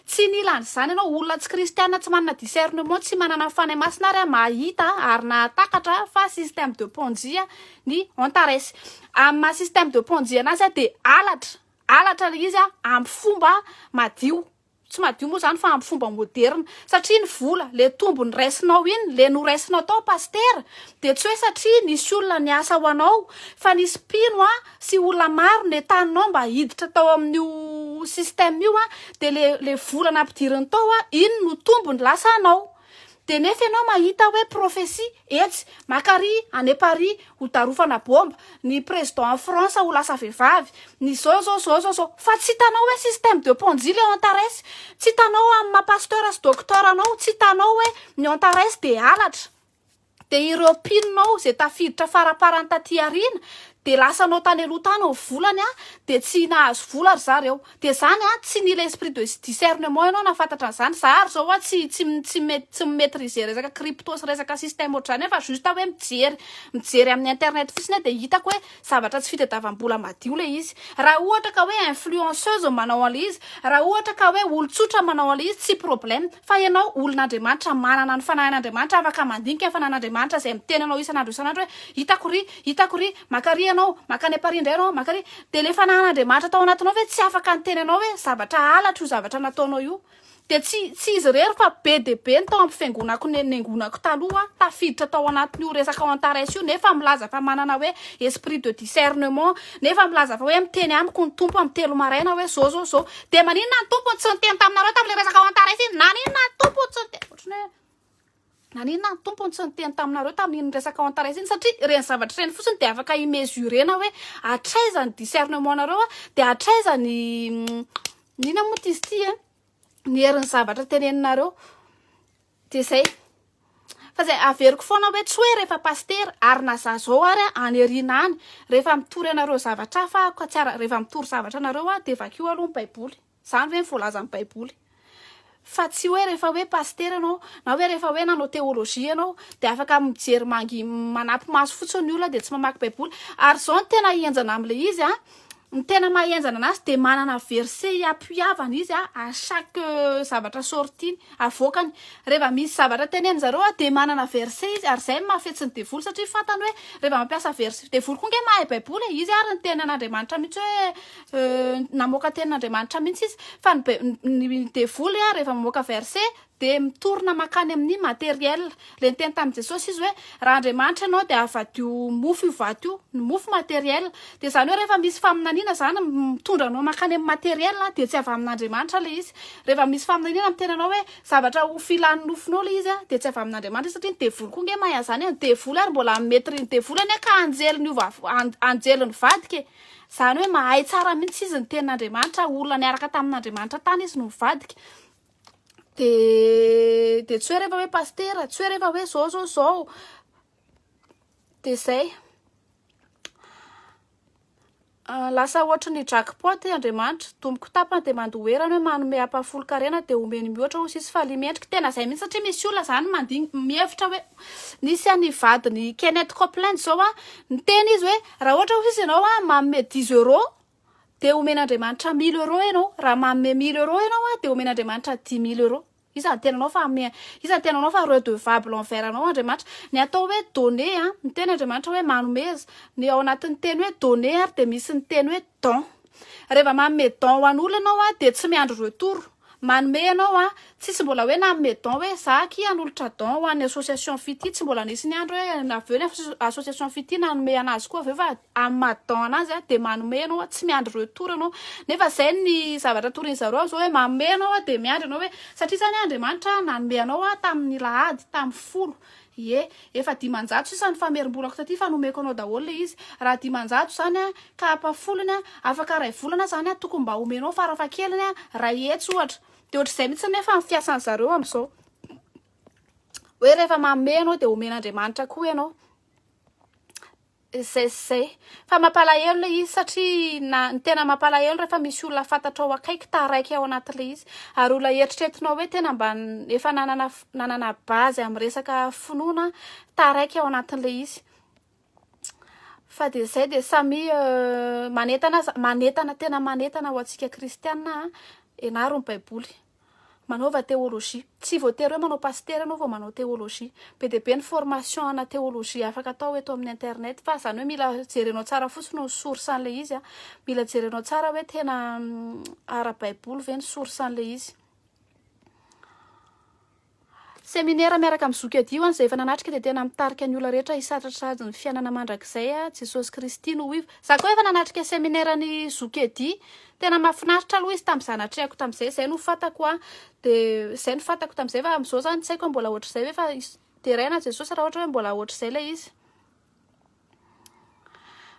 Tsy nila an'izany ianao, olona tsy kristiana, tsy manana discernement, tsy manana ny Fanahy Masina ary aho mahita ary nahatakatra fa système de ponjia ny Antares. Amin'ny maha système de ponjia anazy aho dia halatra, halatra ilay izy amin'ny fomba madio, tsy madio moa izany fa amin'ny fomba moderina, satria ny vola, ilay tombony raisinao iny, ilay noraisinao tao pasitera dia tsy hoe satria nisy olona niasa ho anao fa nisy mpino sy olona maro netaninao mba hiditra tao amin'io système io an, de le le vola nampidiriny tao an, iny no tombony lasa anao. De nefa ianao mahita hoe prophetie etsy, maka ary any à Paris ho darofana bomba, ny président en France ho lasa vehivavy, ny zao zao zao zao zao, fa tsy hitanao hoe système de ponzi le Antares, tsy hitanao amin'ny maha pasteur sy docteur anao, tsy hitanao hoe ny Antares de halatra, dia ireo mpinonao izay tafiditra faraparany taty aoriana dia lasanao tany aloha tany ny volany a dia tsy nahazo vola ry zareo dia zany a tsy nila esprit de discernement ianao nafantatra an'izany za ary zao a tsy tsy tsy mety tsy maîtriser resaka crypto sy resaka système ohatr'izany fa juste hoe mijery mijery amin'ny internet fotsiny dia hitako hoe zavatra tsy fitadiavam-bola madio le izy raha ohatra ka hoe influenceuse manao an'ilay izy raha ohatra ka hoe olon-tsotra manao an'ilay izy tsy problème Fa ianao olon'Andriamanitra, manana ny Fanahin'Andriamanitra, afaka mandinika ny Fanahin'Andriamanitra izay miteny anao isan'andro isan'andro hoe, Hitako iry, hitako iry, maka iry ianao, maka any Paris indray ianao, maka iry. Dia ilay Fanahin'Andriamanitra tao anatinao ve tsy afaka niteny anao hoe, Zavatra halatra io zavatra nataonao io. Dia tsy, tsy izy irery fa be dia be ny tao amin'ny fiangonako ne, niangonako taloha, tafiditra tao anatin'io resaka ao Antares io, nefa milaza fa manana hoe esprit de discernement, nefa milaza fa hoe miteny amiko ny Tompo amin'ny telo maraina hoe, Zao, zao, zao. Dia maninona ny tompony tsy niteny taminareo tamin'ilay resaka ao Antares iny? Naninona ny tompony tsy niteny? Ohatrany hoe naninona ny tompony tsy niteny taminareo tamin'iny resaka ao Antares iny? Satria ireny zavatra ireny fotsiny dia afaka imesurena hoe hatraiza ny discernement-nareo dia hatraiza ny mm, inona moa izy ity eh? ny herin'ny zavatra teneninareo. Dia izay. Fa izay averiko foana hoe tsy hoe rehefa pasitera ary na za zao ary any aoriana any rehefa mitory anareo zavatra hafa aho ka tsy ara rehefa mitory zavatra anareo aho dia vakio aloha ny baiboly. Izany ve ny voalazan'ny baiboly. Fa tsy hoe rehefa hoe pasitera ianao na hoe rehefa hoe nanao teolojia ianao dia afaka mijery mangi manampy maso fotsiny ny olona dia tsy mamaky baiboly. Ary izao ny tena henjana amin'ilay izy an, Ny tena maha henjana anazy dia manana verset hiapoiavana izy à chaque zavatra sortie-ny, avoakany. Reva misy zavatra tenenin-dry zareo dia manana verset izy ary izay no maha fetsy ny devoly satria fantany hoe reva mampiasa verset, devoly koa ange mahay baiboly e, izy ary ny tenin'Andriamanitra mihitsy hoe namoaka tenin'Andriamanitra mihitsy izy fa ny ny devoly reva mamoaka verset Dia mitorina mankany amin'ny matériel. Ilay niteny tamin'i Jesosy izy hoe, raha Andriamanitra ianao dia havadio mofo io vato io. Ny mofo matériel. Dia izany hoe rehefa misy faminaniana izany mitondra anao mankany amin'ny matériel dia tsy avy amin'Andriamanitra ilay izy. Rehefa misy faminaniana miteny anao hoe zavatra ho filan'ny nofonao ilay izy dia tsy avy amin'Andriamanitra izy satria ny devoly koa ange mahay an'izany e. Ny devoly ary mbola mi-maîtrise ny devoly anie ka anjely niova anjely nivadika e. Izany hoe mahay tsara mihitsy izy ny tenin'Andriamanitra, olona niaraka tamin'Andriamanitra tany izy no nivadika. de de tsy hoe rehefa hoe pastera tsy hoe rehefa hoe zao zao zao de zay ah, lasa ohatry ny jackpot eh, andriamanitra domboko tapany de mandoherana hoe manome ampahafolo karena de omeny mihoatra ho sisy faly mendrika tena zay mihitsy satria misy olona zany mandigny mihevitra hoe nisy any vadiny Kenneth Copeland zao ah niteny izy hoe raha ohatra ho sisy ianao ah manome dix euros dia omen'Andriamanitra mille euros ianao, raha manome mille euros ianao an, dia omen'Andriamanitra dix mille euros. Iza no tenanao fa ame, iza no tenanao fa redevable envers anao Andriamanitra. Ny atao hoe donner an, ny teny Andriamanitra hoe manomeza, ny ao anatin'ny teny hoe donner ary dia misy ny teny hoe don. Reva manome don ho an'olona ianao an, dia tsy miandry retour. Manome ianao an! Tsisy mbola hoe nanome don hoe za akia hanolotra don ho an'ny association fitia, tsy mbola nisy ny andro hoe avy eo ny association fitia nanome anazy koa avy eo fa amin'ny maha don anazy an dia manome ianao an, tsy miandry retour ianao nefa izay ny zavatra torian'izareo amin'izao hoe manome ianao an dia miandry ianao hoe satria zany an Andriamanitra nanome anao an tamin'ny lahady tamin'ny folo Ie, efa dimanjato sisa ny famerim-bolako taty fa nomeko anao daholo le izy. Raha dimanjato zany an, ka apa folony an, afaka ray volana zany an, tokony mba omenao farafahakeliny an, ray hetsy ohatra. De ohatr'izay mihitsy nefa ny fiasan'ny zareo am'zao. Hoe rehefa manome ianao de omen'Andriamanitra koa ianao. Ssy. Fa mampalahelo ilay izy satria na ny tena mampalahelo rehefa misy olona fantatrao akaiky taraiky ao anatin'ilay izy ary olona eritreretinao hoe tena mba efa nanana nanana base amin'ny resaka finoana taraiky ao anatin'ilay izy fa dia izay dia samy euh, manentana aza manentana tena manentana ho antsika kristianina ianaro ny baiboly manaova théologie. Tsy voatery hoe manao pasitera anao vao manao théologie. Be dia be ny formation ana théologie afaka atao eto amin'ny internet fa izany hoe mila jerenao tsara fotsiny ny source an'ilay izy an. Mila jerenao tsara hoe tena ara-baiboly ve ny source an'ilay izy. Seminera miaraka amin'ny zoky adio any izay efa nanatrika dia tena mitarika ny olona rehetra hisatratrady ny fiainana mandrakizay a Jesosy Kristy no ivo. Za koa efa nanatrika seminera ny zoky edy tena mafinaritra aloha izy tamin'iza natrehako tamin'izay zay no fantako a dia zay no fantako tamin'izay fa amin'izao zany tsy haiko hoe mbola ohatr'izay ve fa deraina Jesosy raha ohatra hoe mbola ohatr'izay ilay izy.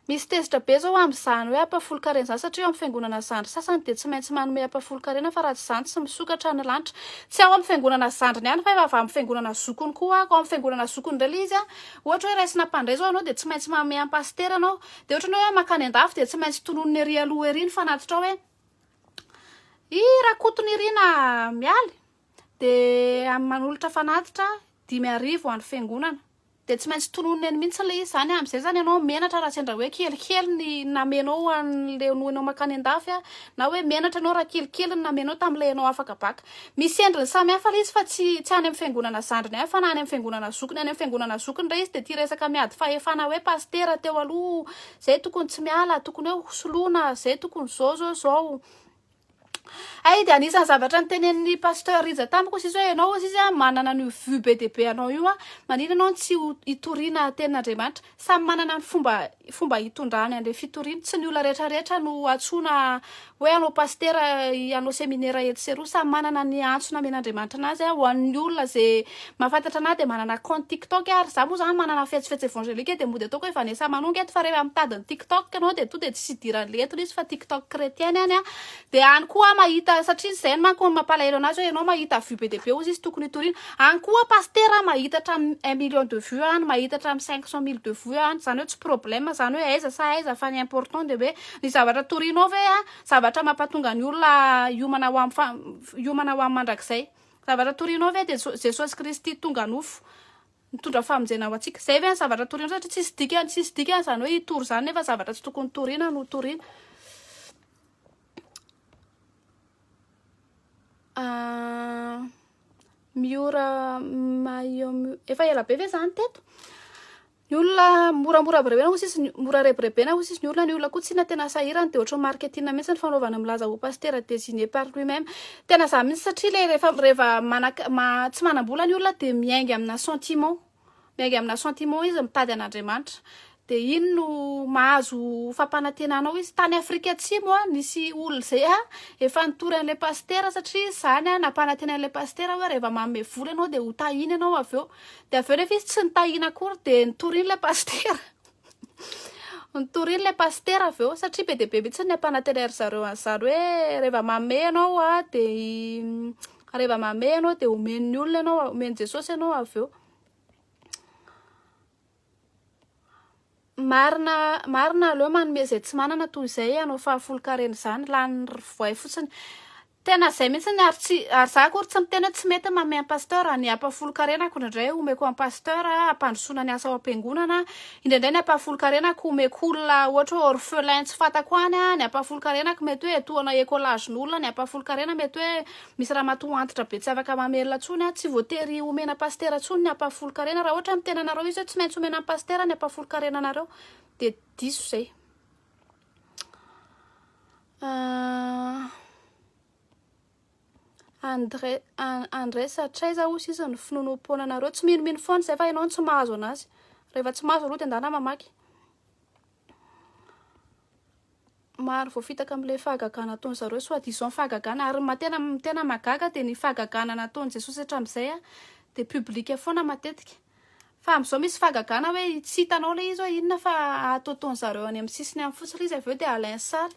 Misy tezitra be izao amin'izany hoe ampahafolon-karena izany satria eo amin'ny fiangonana zandry sasany dia tsy maintsy manome ampahafolon-karena fa raha tsy izany tsy misokatra ny lanitra. Tsy ao amin'ny fiangonana zandriny ihany fa efa avy amin'ny fiangonana zokiny koa ako. Ao amin'ny fiangonana zokiny indray ilay izy an, ohatra hoe raisina mpandray izao ianao dia tsy maintsy manome ampasitera ianao. Dia ohatra ny hoe mankany an-dafy dia tsy maintsy tononina ery aloha ery ny fanatitra ao hoe i Rakotonirina Mialy dia manolotra fanatitra dimy arivo ho an'ny fiangonana. Dia tsy maintsy tolonina eny mihitsy ilay izy izany, amin'izay izany ianao menatra raha sendra hoe kelikely ny namenao ho an'ilay noenao mankany an-dafy, na hoe menatra ianao raha kelikely ny namenao tamin'ilay ianao afaka baka. Misy endriny samihafa ilay izy fa tsy tsy any amin'ny fiangonana zandriny ihany fa na any amin'ny fiangonana zokiny, any amin'ny fiangonana zokiny indray izy dia ity resaka miady fahefana hoe pasitera teo aloha izay tokony tsy miala, tokony hoe ho soloina, izay tokony izao izao izao. Hay dia anisan'ny zavatra nitenenin'ny pasteur Rija tamiko sisa hoe ianao sisa a manana an'io vue be dia be anao io a manina ianao tsy ho itoriana tenin'Andriamanitra samy manana ny fomba fomba hitondrany an'ilay fitoriana tsy ny olona rehetra rehetra no antsoina hoe anao pasitera anao seminera etsy sy eroa samy manana ny antso namen'Andriamanitra anazy a ho an'ny olona izay Mahafantatra anah dia manana compte tiktok a, ary za moa zany manana fetsy fetsy evangelique dia mody ataoko hoe Vanessa Manonga eto fa rehefa mitady ny tiktok ianao dia tonga dia tsisy idiran'ny lettres izy fa tiktok chrétienne any a, dia any koa mahita satria izay no manko no mampalahelo anazy hoe ianao mahita vue be dia be ozy izy tokony hitoriana, any koa pasitera mahita hatramin'ny un million de vue any, mahita hatramin'ny cinq cent mille de vue any, izany hoe tsy problème izany hoe aiza sa aiza fa ny important dia hoe ny zavatra torianao ve a zavatra mampatonga ny olona hiomana ho amin'ny fa hiomana ho amin'ny mandrakizay. Zavatra torianao ve dia Jesosy Kristy tonga nofo nitondra famonjena ho antsika? Izay ve ny zavatra torianao? Satria tsisy dikany, tsisy dikany izany hoe hitory izany nefa zavatra tsy tokony toriana no toriana. Ah, Miora Mayo, efa ela be ve izany teto? Ny olona moramora aby rebena hoy sisy ny mora rebirebena hoy sisy ny olona ny olona koa tsina tena sahirana dia ohatran'ny marketing mihitsy ny fanaovana milaza ho pasitera designé par lui même tena za mihitsy satria le rehefa rehefa manak ma tsy manam-bola ny olona dia miainga amina sentiment miainga amina sentiment izy mitady an'Andriamanitra dia iny no mahazo fampanantenana ao izy tany Afrika Atsimo a nisy olona izay a efa nitory an'ilay pasitera satria izany a nampanantena an'ilay pasitera hoe rehefa manome vola ianao dia ho tahina ianao avy eo Dia avy eo rehefa izy tsy nitahiana akory dia nitoriany ilay pasitera. Nitoriany ilay pasitera avy eo satria be dia be mihitsy ny ampanantena ry zareo an'izany hoe rehefa mamehy ianao dia rehefa mamehy ianao dia omen'ny olona ianao, omen'i Jesosy ianao avy eo. Marina marina aleo manome izay tsy manana toy izay hanao fahafolon-karena izany lany ry voay fotsiny tena izay mihitsy ny ary tsy ary za akory tsy miteny hoe tsy mety manome an'i pasteur ny ampahafolon-karena ko indraindray homeko an'i pasteur hampandrosoana ny asa ao am-piangonana indraindray ny ampahafolon-karena ko homeko olona ohatra hoe orphelin tsy fantako any ny ampahafolon-karena ko mety hoe etoana écolage-n'olona ny ampahafolon-karena mety hoe Misy ramatoa antitra be tsy afaka mamerina tsony a! Tsy voatery omena pasitera tsony ny ampahafolon-karena raha ohatra ny tenanareo izy hoe tsy maintsy omena ny pasitera ny ampahafolon-karenanareo de diso izay ah. Andre Andres hatraiza hozy izy ny finoanoam-poananareo tsy minomino foana izay fa ianao no tsy mahazo anazy rehefa tsy mahazo aloha dia andeha mamaky maro voafitaka amin'ilay fahagagana ataon'ny zareo soit disant fahagagana ary ma tena tena mahagaga dia ny fahagagana nataon'i Jesosy hatramin'izay dia public foana matetika fa amin'izao misy fahagagana hoe tsy hitanao ilay izy hoe inona fa ataotaon'ny zareo any amin'ny sisiny any fotsiny ilay izy avy eo dia alain sary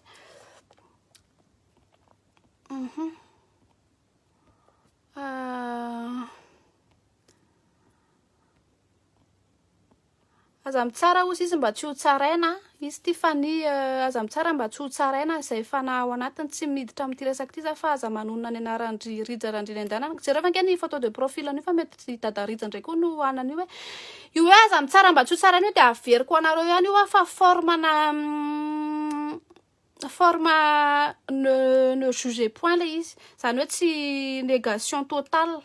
Aza mitsara hozy izy mba tsy ho tsaraina izy ity fa ny eh, aza mitsara mba tsy ho tsaraina izay fanahy ao anatiny tsy miditra amin'ity resaka ity za fa aza manonona ny anaran-dry Rija Randriananjanana jereo ve ange ny photo de profil an'io fa mety i dada Rija indray koa no hanana io hoe io hoe aza mitsara mba tsy ho tsaraina io dia averiko ho anareo ihany io fa formana mm, Forme ne, ne juger point le izy. Zany hoe tsy negation total.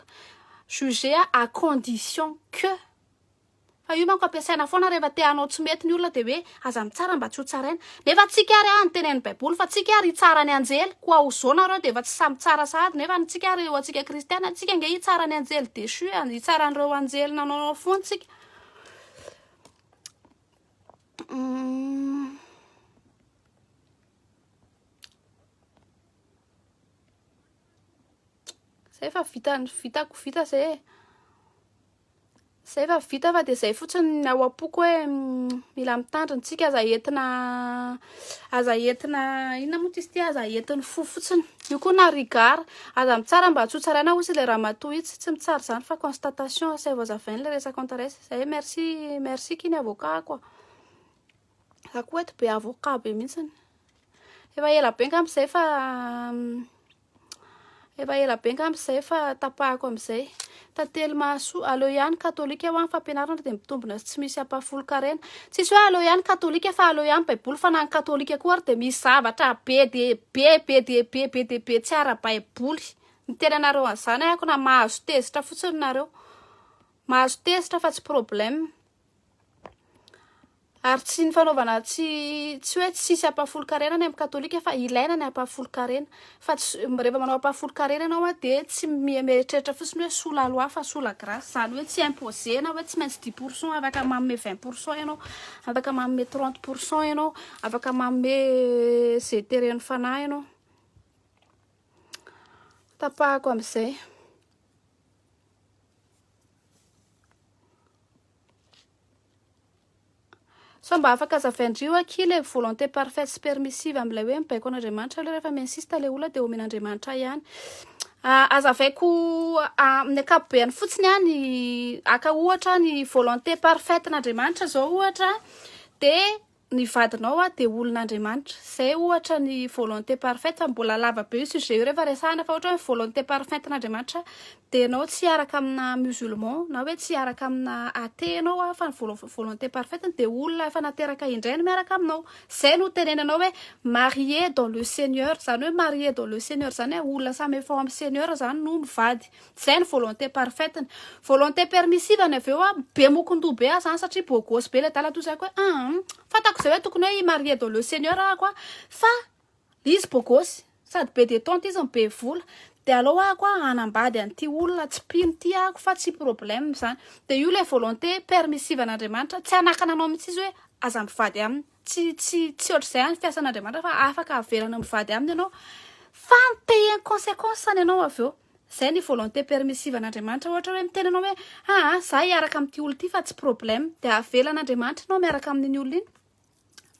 Juger à condition que. Fa io manko ampiasaina foana rehefa te hanao tsy mety ny olona dia hoe aza mitsara mba tsy ho tsaraina. Nefa tsika ary an, tenenin'ny baiboly fa tsika ary hitsara ny anjely. Koa ho zo nareo dia efa tsy samy tsara sahady. Nefa ny tsika ary ho antsika kristiana, tsika ange hitsara ny anjely dechu, hitsara an'ireo anjely nanao fo antsika. Zay efa vita ny vitako vita zay e. Zay efa vita fa de zay fotsiny ny ao am-poko hoe mm, mila mitandrina tsika aza entina aza entina inona moa izy ty aza entin'ny fo fotsiny. Io koa na rigara aza mitsara mba tsy ho tsaraina hozy ilay ramatoa itsy tsy mitsara izany fa constatation asaivo azavaina ilay resaka antaresa. Zay merci merci kiny avocat ako a. Za koa eto be avocat be mihitsy. Efa ela be ngamba zay fa efa ela be ngamba zay fa tapahako amizay. Tantely mahasoa aleo ihany katolika ho an fampianarana dia mitombina tsy misy ampahafolon-karena. Tsisy hoe aleo ihany katolika fa aleo ihany baiboly fa na ny katolika koa ary dia misy zavatra be dia be be dia be be dia be tsy ara-baiboly. Miteny anareo an'izany aho ko na mahazo tezitra fotsiny nareo. Mahazo tezitra fa tsy problème. Ary tsy ny fanaovana tsy tsy hoe tsisy ampahafolon-karena ny amin'ny katolika fa ilaina ny ampahafolon-karena. Fa tsy rehefa manao ampahafolon-karena ianao a dia tsy mi- mieritreritra fotsiny hoe sous la loi fa sous la grace. Izany hoe tsy imposer na hoe tsy maintsy dix pour cent afaka manome vingt pour cent ianao, afaka manome trente pour cent ianao, afaka manome ze teren'ny fanahy ianao. Tapahako amin'izay. Sao mba afaka hazavain-drio akia ilay volonté parfaite sy permissive amin'ilay hoe mibaiko an'Andriamanitra aloha rehefa mi-insiste ilay olona dia omen'Andriamanitra ihany. Ah, hazavaiko ah, amin'ny ankapobeny fotsiny ah, ny aka ohatra ny volonté parfaite n'Andriamanitra izao ohatra dia ny vadinao hoa dia olon'Andriamanitra. Izay ohatra ny volonté parfaite fa mbola lava be io sujet io rehefa resahana fa ohatra hoe volonté parfaite n'Andriamanitra dia ianao tsy hiaraka amina musulman na hoe tsy hiaraka amina athée ianao hoa fa ny volo- volonté parfaite ny dia olona efa nateraka indray no miaraka aminao. Izay no tenenanao hoe marié dans le seigneur izany hoe marié dans le seigneur izany hoe olona samy efa ao amin'ny seigneur izany no mivady. Zay ny volonté parfaite ny. Volonté permissive ny avy eo a be mokon-doha be aza an satria beau gosse be le dala toa zay ko hoe an an fantako zay hoe tokony hoe i marier dans le seigneur ahako a fa le izy beau gosse sady be detente izy no be vola de aleo ahako a hanambady an'ity olona tsy mpino ity ahako fa tsy problème zany de io le volonté permissive an'Andriamanitra tsy hanakana anao mihitsy izy hoe aza mivady aminy. Tsy, tsy, tsy ohatr'izay any fiasan'Andriamanitra fa afaka averana mivady aminy ianao fa mi-payer ny consequence-ny ianao avy eo. Izay ny volonté permissive an'Andriamanitra. Ohatra hoe miteny ianao hoe, aa, izaho hiaraka amin'ity olona ity fa tsy problème. Dia avelan'Andriamanitra ianao miaraka amin'iny olona iny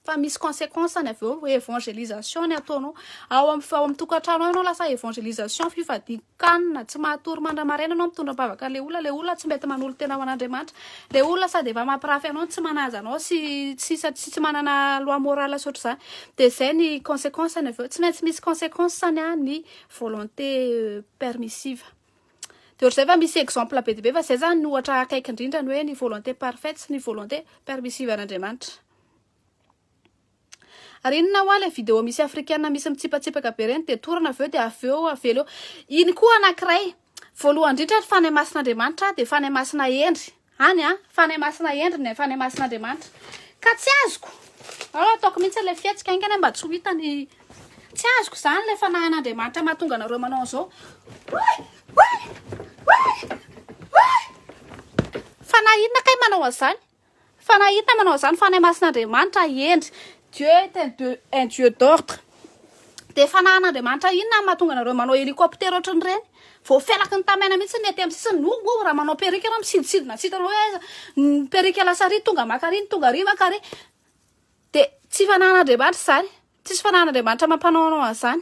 fa misy consequence-ny avy eo, evangelisation ny ataonao. Ao amin'ny, ao amin'ny tokantranonao ianao lasa evangelisation fifadiana. Can, tsy mahatory mandra-maraina anao mitondra am-pavaka an'ilay olona, ilay olona tsy mety manolo-tena ho an'Andriamanitra, ilay olona sady efa mampirafy anao no tsy manaja anao sy tsy sa- sy tsy manana loi morale tsy ohatr'izany, dia izay ny consequence-ny avy eo, tsy maintsy misy consequence-ny an ny volonté permissive. Dia ohatr'izay fa misy exemple be dia be fa izay izany no ohatra akaiky indrindra ny hoe ny volonté parfaite sy ny volonté permissive an'Andriamanitra. Ary inona hoa ilay video misy afrikana misy mitsipatsipaka be ireny dia torana avy eo dia avy eo avela eo. Iny koa anankiray. Voalohany indrindra ny fanahy masin'Andriamanitra dia fanahy masina hendry. Any a, fanahy masina hendry ny fanahy masin'Andriamanitra. Ka tsy azoko. Ao ataoko mihitsy ilay fihetsika haingana mba tsy ho hita ny tsy azoko izany ilay fanahin'Andriamanitra mahatonga anareo manao an'izao. Fanahy inona kay manao an'izany? Fa nahita manao izany Fanahy Masin'Andriamanitra, hendry, Dieu est un Dieu, un Dieu d'ordre. Dia Fanahin'Andriamanitra inona no mahatonga anareo manao hélicoptère ohatran'ireny? Vao felaky ny tamaina mihitsy ny aty amin'ny sisiny, no no raha manao perruque ianao misidintsidina tsy hitanao hoe aiza ny perruque lasa ary tonga maka ary ny tonga ary maka ary. Dia tsy Fanahin'Andriamanitra izany, tsisy Fanahin'Andriamanitra mampanao anao an'izany.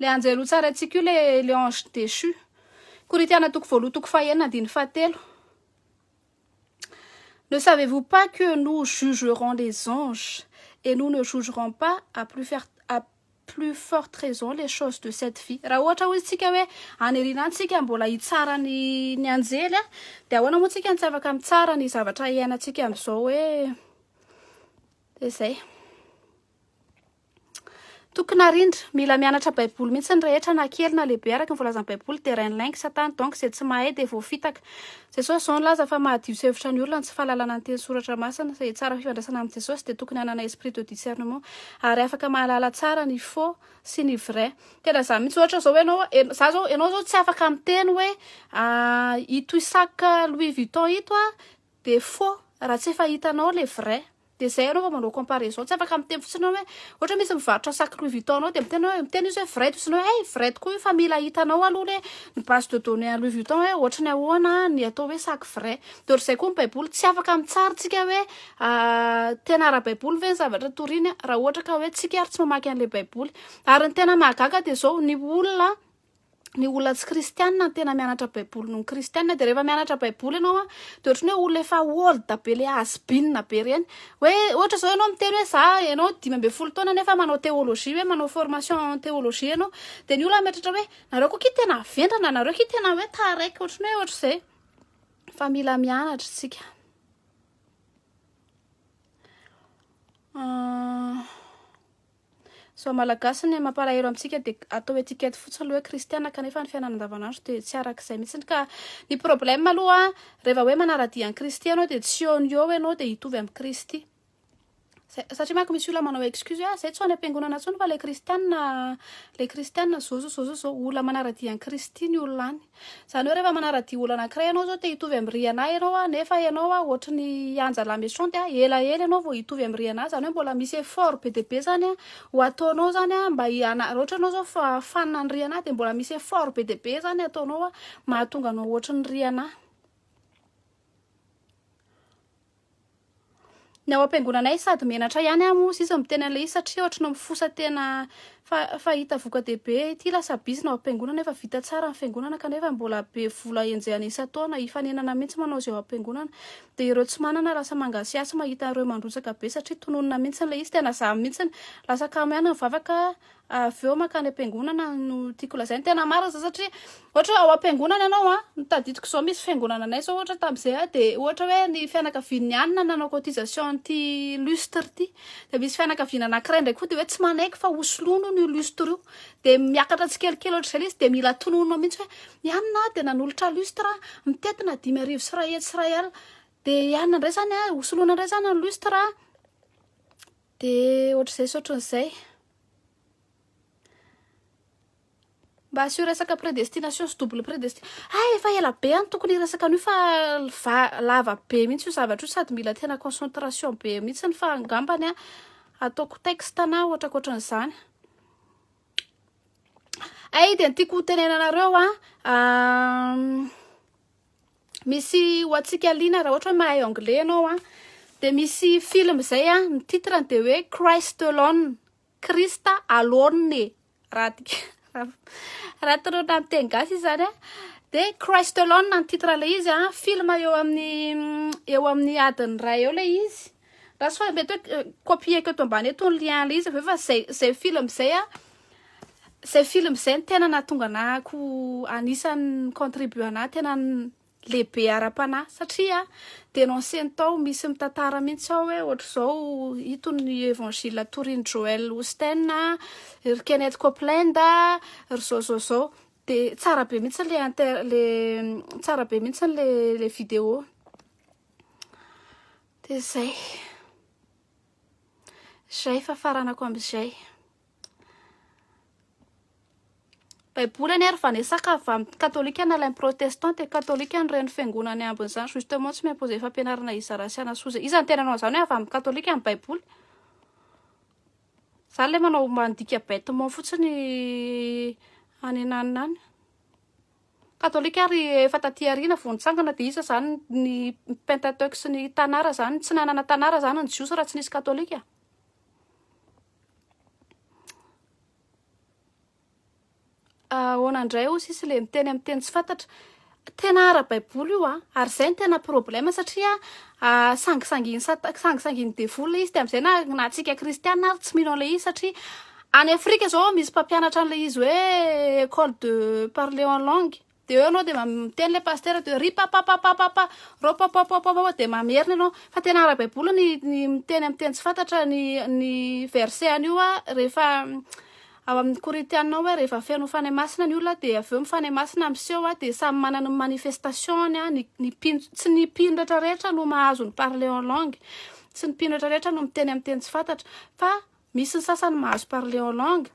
Le anjely ho tsara antsika io le le ange déchu. Korintiana toko voaloha toko fahenina andiny fahatelo. Ne savez-vous pas que nous jugerons les anges et nous ne jugerons pas à plus faire à plus forte raison les choses de cette vie. Raha ohatra hoy isika hoe aniriana antsika mbola hitsara ny ny anjely a dia ahoana moa tsika no tsy afaka mitsara ny zavatra iainantsika amin'izao hoe dia zay. Tokony arindra. Mila mianatra Baiboly mihitsy ny rehetra na kely na lehibe araka ny voalazan'ny Baiboly dia rain'ilay ny satana donc izay tsy mahay dia voafitaka. Jesosy izao nilaza fa mahadio tsy hevitra ny olona ny tsy fahalalana ny teny soratra masina. Izay hitsara fifandraisana amin'i Jesosy dia tokony hanana esprit de discernement ary afaka mahalala tsara ny faux sy ny vrai. Tena izany mihitsy ohatra izao ianao ianao za zao ianao zao tsy afaka miteny hoe ah ito sac Louis Vuitton ito ah de faux raha tsy efa hitanao le vrai. Dia zay anao vao manao comparaison tsy afaka miteny fotsiny hoe ohatra misy mivarotra sac Louis Vuitton anao dia miteny hoe miteny izy hoe vrai toa isanao hoe hey vrai tokoa io fa mila hitanao aloha le ny base de données an'i Louis Vuitton hoe ohatry ny ahoana ny atao hoe sac vrai dia ohatr'izay koa ny baiboly tsy afaka mitsara tsika hoe tena ara-baiboly ve ny zavatra toriny raha ohatra ka hoe tsika ary tsy mamaky an'ilay baiboly ary ny tena mahagaga dia zao ny olona ny olona tsy kristianina no tena mianatra baiboly noho ny kristianina dia rehefa mianatra baiboly ianao a dia ohatry ny hoe olona efa old be le hasbinina be ireny hoe ohatra izao ianao miteny hoe za ianao dimy ambin'ny folo taona nefa manao théologie hoe manao formation en théologie ianao dia ny olona mieritreritra hoe nareo koa ki tena avendrana nareo ki tena hoe taraiky ohatry ny hoe ohatry izay fa mila mianatra isika ah. Zao malagasy ny mampalahelo amintsika dia atao etiquette fotsiny ilay hoe kristiana kanefa ny fiainana andavanandro dia tsy araka izay mihitsy ka ny problème aloha rehefa hoe manaradia an'i Kristy ianao dia tsy eo no eo ianao dia hitovy amin'i Kristy zay satria manko misy olona manao excuse hoe ah zay tsy ho any am-piangonana intsony fa ilay kristiana ilay kristiana zao zao zao zao zao olona manaradia an'i Kristy ny olona any Izany hoe rehefa manara-dia olona anankiray ianao zao te hitovy amin'i Rihanna ianao a, nefa ianao a ohatry ny Anja la Méchante a, ela ela ianao vao hitovy amin'i Rihanna, izany hoe mbola misy effort be dia be izany ho ataonao izany a mba hi- hana- raha ohatra ianao izao fa fan an'i Rihanna dia mbola misy effort be dia be izany ataonao mahatonga anao ohatry ny Rihanna. Ny ao am-piangonanay sady menatra ihany aho moa izy miteny an'ilay izy satria ohatry ny mifosa tena fa fa hita voka-dehibe ity lasa bizina ao am-piangonana efa vita tsara ny fiangonana kanefa mbola be vola enjehana isan-taona hifanenana mihitsy manao izay ao am-piangonana dia ireo tsy manana lasa mangasiasy mahita ireo mandrotsaka be satria tononina mihitsy ilay izy tena zany mihitsy lasa kamo ihany ny vavaka avy eo makany am-piangonana no tiako lazaina, tena marina zany satria ohatra hoe ao am-piangonana ianao a, ny tadidiko izao misy fiangonana anay izao ohatra tamin'izay a dia ohatra hoe ny fianakavian'ny any no nanao cotisation an'ity lustre ity, dia misy fianakaviana anankiray indray koa dia hoe tsy manaiky fa hosoloina hono io lustre io, dia miakatra tsikelikely ohatr'izay ilay izy dia mila tononina mihitsy hoe ny any na dia nanolotra lustre a, mitety na dimy arivo sy iray hetsy sy iray alina, dia i any indray izany a, hosoloina indray izany ny lustre a, De ohatr'izay sy ohatran'izay. Mba asio resaka prédestination sy double prédestination. Hay ah, efa ela be aho no tokony hiresaka an'io fa va- lava be mihitsy io zavatra io sady mila tena concentration be mihitsy fa angambany ah, ataoko texte na ohatra ankoatran'izany. Hay de ny tiako hotenenanareo an, misy ho antsika liana raha ohatra hoe mahay anglais ianao a dia misy film izay a ny titre dia hoe Christ alone Christ alone raha tika raha toroana amin'ny teny gasy izany a dia Christ alone ny titre ilay izy a film eo amin'ny eo amin'ny adiny iray eo ilay izy Rasoa mety hoe copier-ko eto ambany eto ny lien ilay izy avy eo fa zay zay film izay a zay film izay ny tena nahatonga anahako anisan'ny contribue anahy tena lehibe ara-panahy satria dénoncé-ny tao misy mitantara mihitsy ao hoe ohatr'izao ito ny évangile torin'i Joel Osteen ry Kenneth Copeland ry zao zao zao de tsara be mihitsy le inter le tsara be mihitsy le le vidéo Dia izay. Izay fahafaranako amin'izay. Baiboly anie ary vanesaka avy amin'ny katolika na ilay protestant dia katolika ny reny fiangonana ambin'izany justement tsy mi-imposer fampianarana hizara sy hanasoa izay. Iza no tena nanao izany hoe avy amin'ny katolika ny baiboly? Izany ilay manao mandika bêtement fotsiny any na any. Katolika ary efa taty aoriana vao nitsangana dia iza zany ny Pentateuch sy ny Tanara zany? Tsy nanana Tanara zany ny Jiosy raha tsy nisy Katolika? Ahoana indray hoy sisa ilay miteny amin'ny teny tsy fantatra? Tena ara-baiboly io an! Ary izay no tena problema satria sangisangin'i sata- sangisangin'i devoly ilay izy dia amin'izay na na antsika kristiana ary tsy mino an'ilay izy satria Any Afrika zao misy mpampianatra an'ilay izy hoe école de parler en langue. Dia eo ianao dia ma- miteny ilay pasitera dia hoe ry papapapapapa, ro papapapapa dia mamerina ianao. Fa tena ara-baiboly ny ny miteny amin'ny teny tsy fantatra ny ny verset an'io a, rehefa ao amin'ny Korintiana hoe rehefa feno fanahy masina ny olona dia avy eo ny fanahy masina miseho a, dia samy manana ny manifestation-ny a, ny ny mpino ts- tsy ny mpino rehetra rehetra no mahazo ny parler en langue, tsy ny mpino rehetra rehetra no miteny amin'ny teny tsy fantatra, fa Misy ny sasany mahazo parler en langue,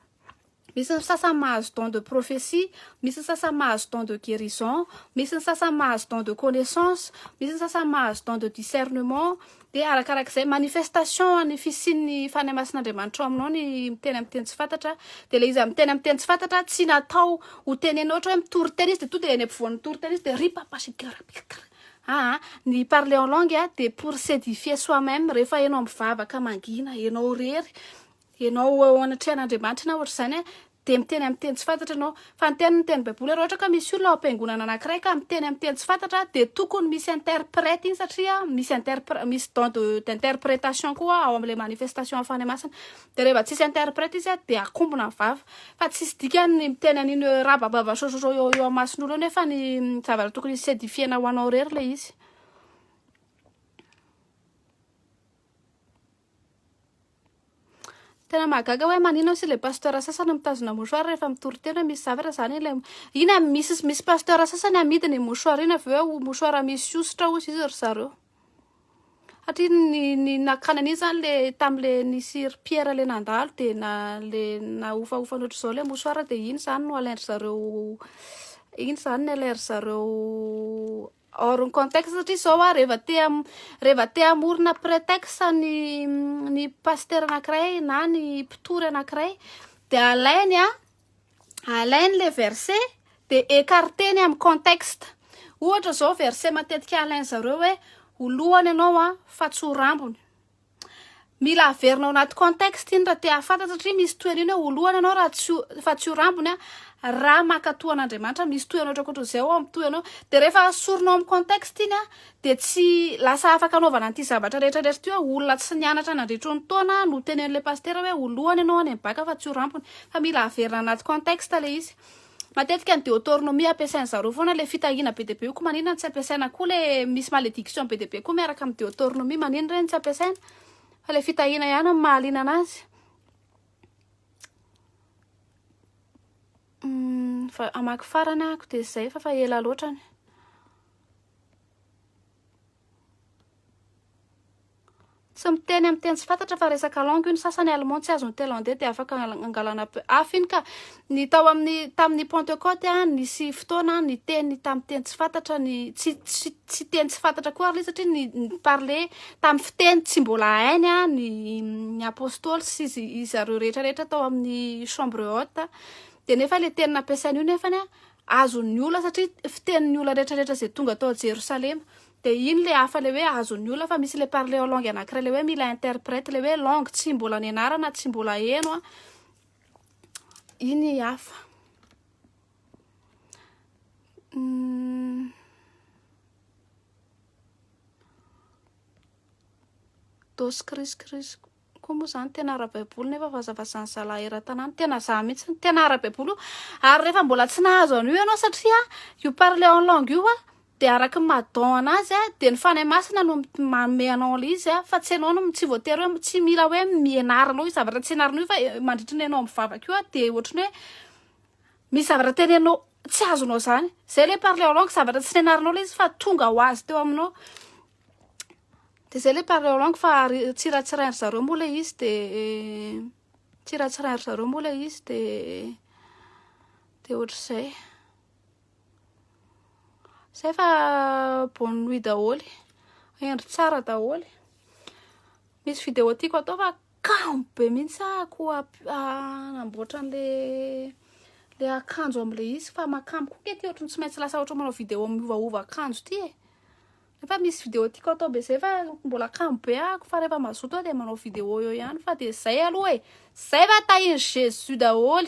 misy ny sasany mahazo don de prophetie, misy ny sasany mahazo don de guerison, misy ny sasany mahazo don de connaissance, misy ny sasany mahazo don de discernement, de arakarak'izay manifestation an'ny fisian'ny Fanahy Masin'Andriamanitra ao aminao ny miteny amin'ny teny tsy fantatra, de le izy amin'ny teny amin'ny teny tsy fantatra tsy natao ho tenena ohatra hoe mitory teny izy de tonga de eny ampovoan'ny mitory teny izy de ripapashigarapikara Aa ny parler en langue a de pour s'edifier soi meme rehefa enao mivavaka mangina enao rery enao eo anatrehan'Andriamanitra na ohatr'izany a de miteny amin'ny teny tsy fantatra enao fa ny tenin'ny teny baiboly raha ohatra ka misy olona ao am-piangonana anakiray ka miteny amin'ny teny tsy fantatra a de tokony misy interprète iny satria misy interpr- misy don de d'interprétation koa ao amin'ilay manifestation hafanay masina Dia rehefa tsisy interprète izy dia akombona ny vava. Fa tsisy dikany ny miteny an'iny hoe rabababa sososo eo eo amason'olo eo nefa ny zavatra tokony hisy edifiena ho anao irery ilay izy. Tena mahagaga hoe manina sy ilay pasteur sasany mitazona mouchoir rehefa mitory teny hoe misy zavatra izany ilay ina misy misy pasteur sasany amidy ny mouchoir iny avy eo mouchoir misy hosotra hozy izy ry zareo. Satria ny ny nakana an'iny zany le tamle nisy ry Pierre le nandalo de na le nahofahofa ny ohatr'izao le mosoara de iny zany no alain-dry zareo iny zany no alain-dry zareo hors ny contexte satria zao hoa rehefa te ha- rehefa te hamorona prétexte ny ny pasitera anakiray na ny mpitory anakiray de alainy a alainy le verset de écarteny amin'ny contexte. Ohatra zao verset matetika alainy zareo hoe ho lohany ianao a fa tsy ho rambony. Mila averina ao anaty contexte iny raha te hahafantatra satria misy toerana hoe ho lohany ianao raha tsy fa tsy ho rambony a raha mankatoa an'Andriamanitra misy toerana ohatrakoatra izay ao amin'ny tohanao de rehefa asorinao amin'ny contexte iny a dia tsy lasa afaka anaovana an'ity zavatra rehetra rehetra ity hoe olona tsy nianatra nandritry ny taona no tenen'ilay pasitera hoe ho lohany ianao any amin'ny bacc fa tsy ho rampony fa mila averina anaty contexte ilay izy matetika ny deotornomia ampiasain'ny zareo foana ilay fitahiana be dia be io ko maninona no tsy ampiasaina koa ilay misy malediction be dia be koa miaraka amin'ny deotornomia maninona ireny tsy ampiasaina fa ilay fitahiana ihany no mahaliana anazy hum, fa hamaky farany ahako dia izay fa fa ela loatra ny Tsy miteny amin'ny teny tsy fantatra fa resaka langue io ny sasany allemand tsy azon'ny tailandais dia afaka hangalana peu hafa iny ka ny tao amin'ny tamin'ny pentecote a nisy fotoana ny teny tamin'ny teny tsy fantatra ny tsy tsy tsy teny tsy fantatra koa ary ilay satria ny parler tamin'ny fiteny tsy mbola hainy a ny ny apostoly sy izy izy zareo rehetra rehetra tao amin'ny chambre haute dia nefa ilay teny nampiasaina io nefany a azon'ny ola satria fitenin'ny ola rehetra rehetra izay tonga tao Jerosalema dia iny le hafa le hoe azon'ny ola fa misy le parle en langue anankiray le hoe mila interprète le hoe langue tsy mbola nianarana tsy mbola heno a iny hafa hmm. dos cris cris Koa moa zany tena ara-baiboly nefa vazavazan'ny zalahy eran-tanàna. Tena za mihitsy no tena ara-baiboly io. Ary rehefa mbola tsy nahazo an'io ianao satria io parler en langue io dia araka ny maha don anazy dia ny Fanahy Masina no manome anao an'ilay izy fa tsy ianao no tsy voatery hoe tsy mila hoe mianaranao io zavatra tsy ianaranao io fa mandritra ny ianao mivavaka io dia ohatry ny hoe misy zavatra teneninao tsy azonao izany. Izay ilay parler en langue zavatra tsy nianaranao ilay izy fa tonga ho azy teo aminao. dia zay le parler en langue fa tsiratsirain-dry zareo moa le izy de tsiratsirain-dry zareo moa le izy de de ohatr'izay zay fa bonne nuit daholo hendry tsara daholo misy vidéo tiako atao fa kamo be mihitsy ahako hanamboatra an'le le akanjo am'le izy fa makamo koa nge ty ohatrany tsy maintsy lasa ohatry manao vidéo miovaova akanjo ty e Nefa misy vidéo tiako atao be zay fa mbola kamo be ako fa rehefa mazoto aho dia manao vidéo eo ihany fa dia zay aloha e. Zay fa tahin'i Jésus daholo.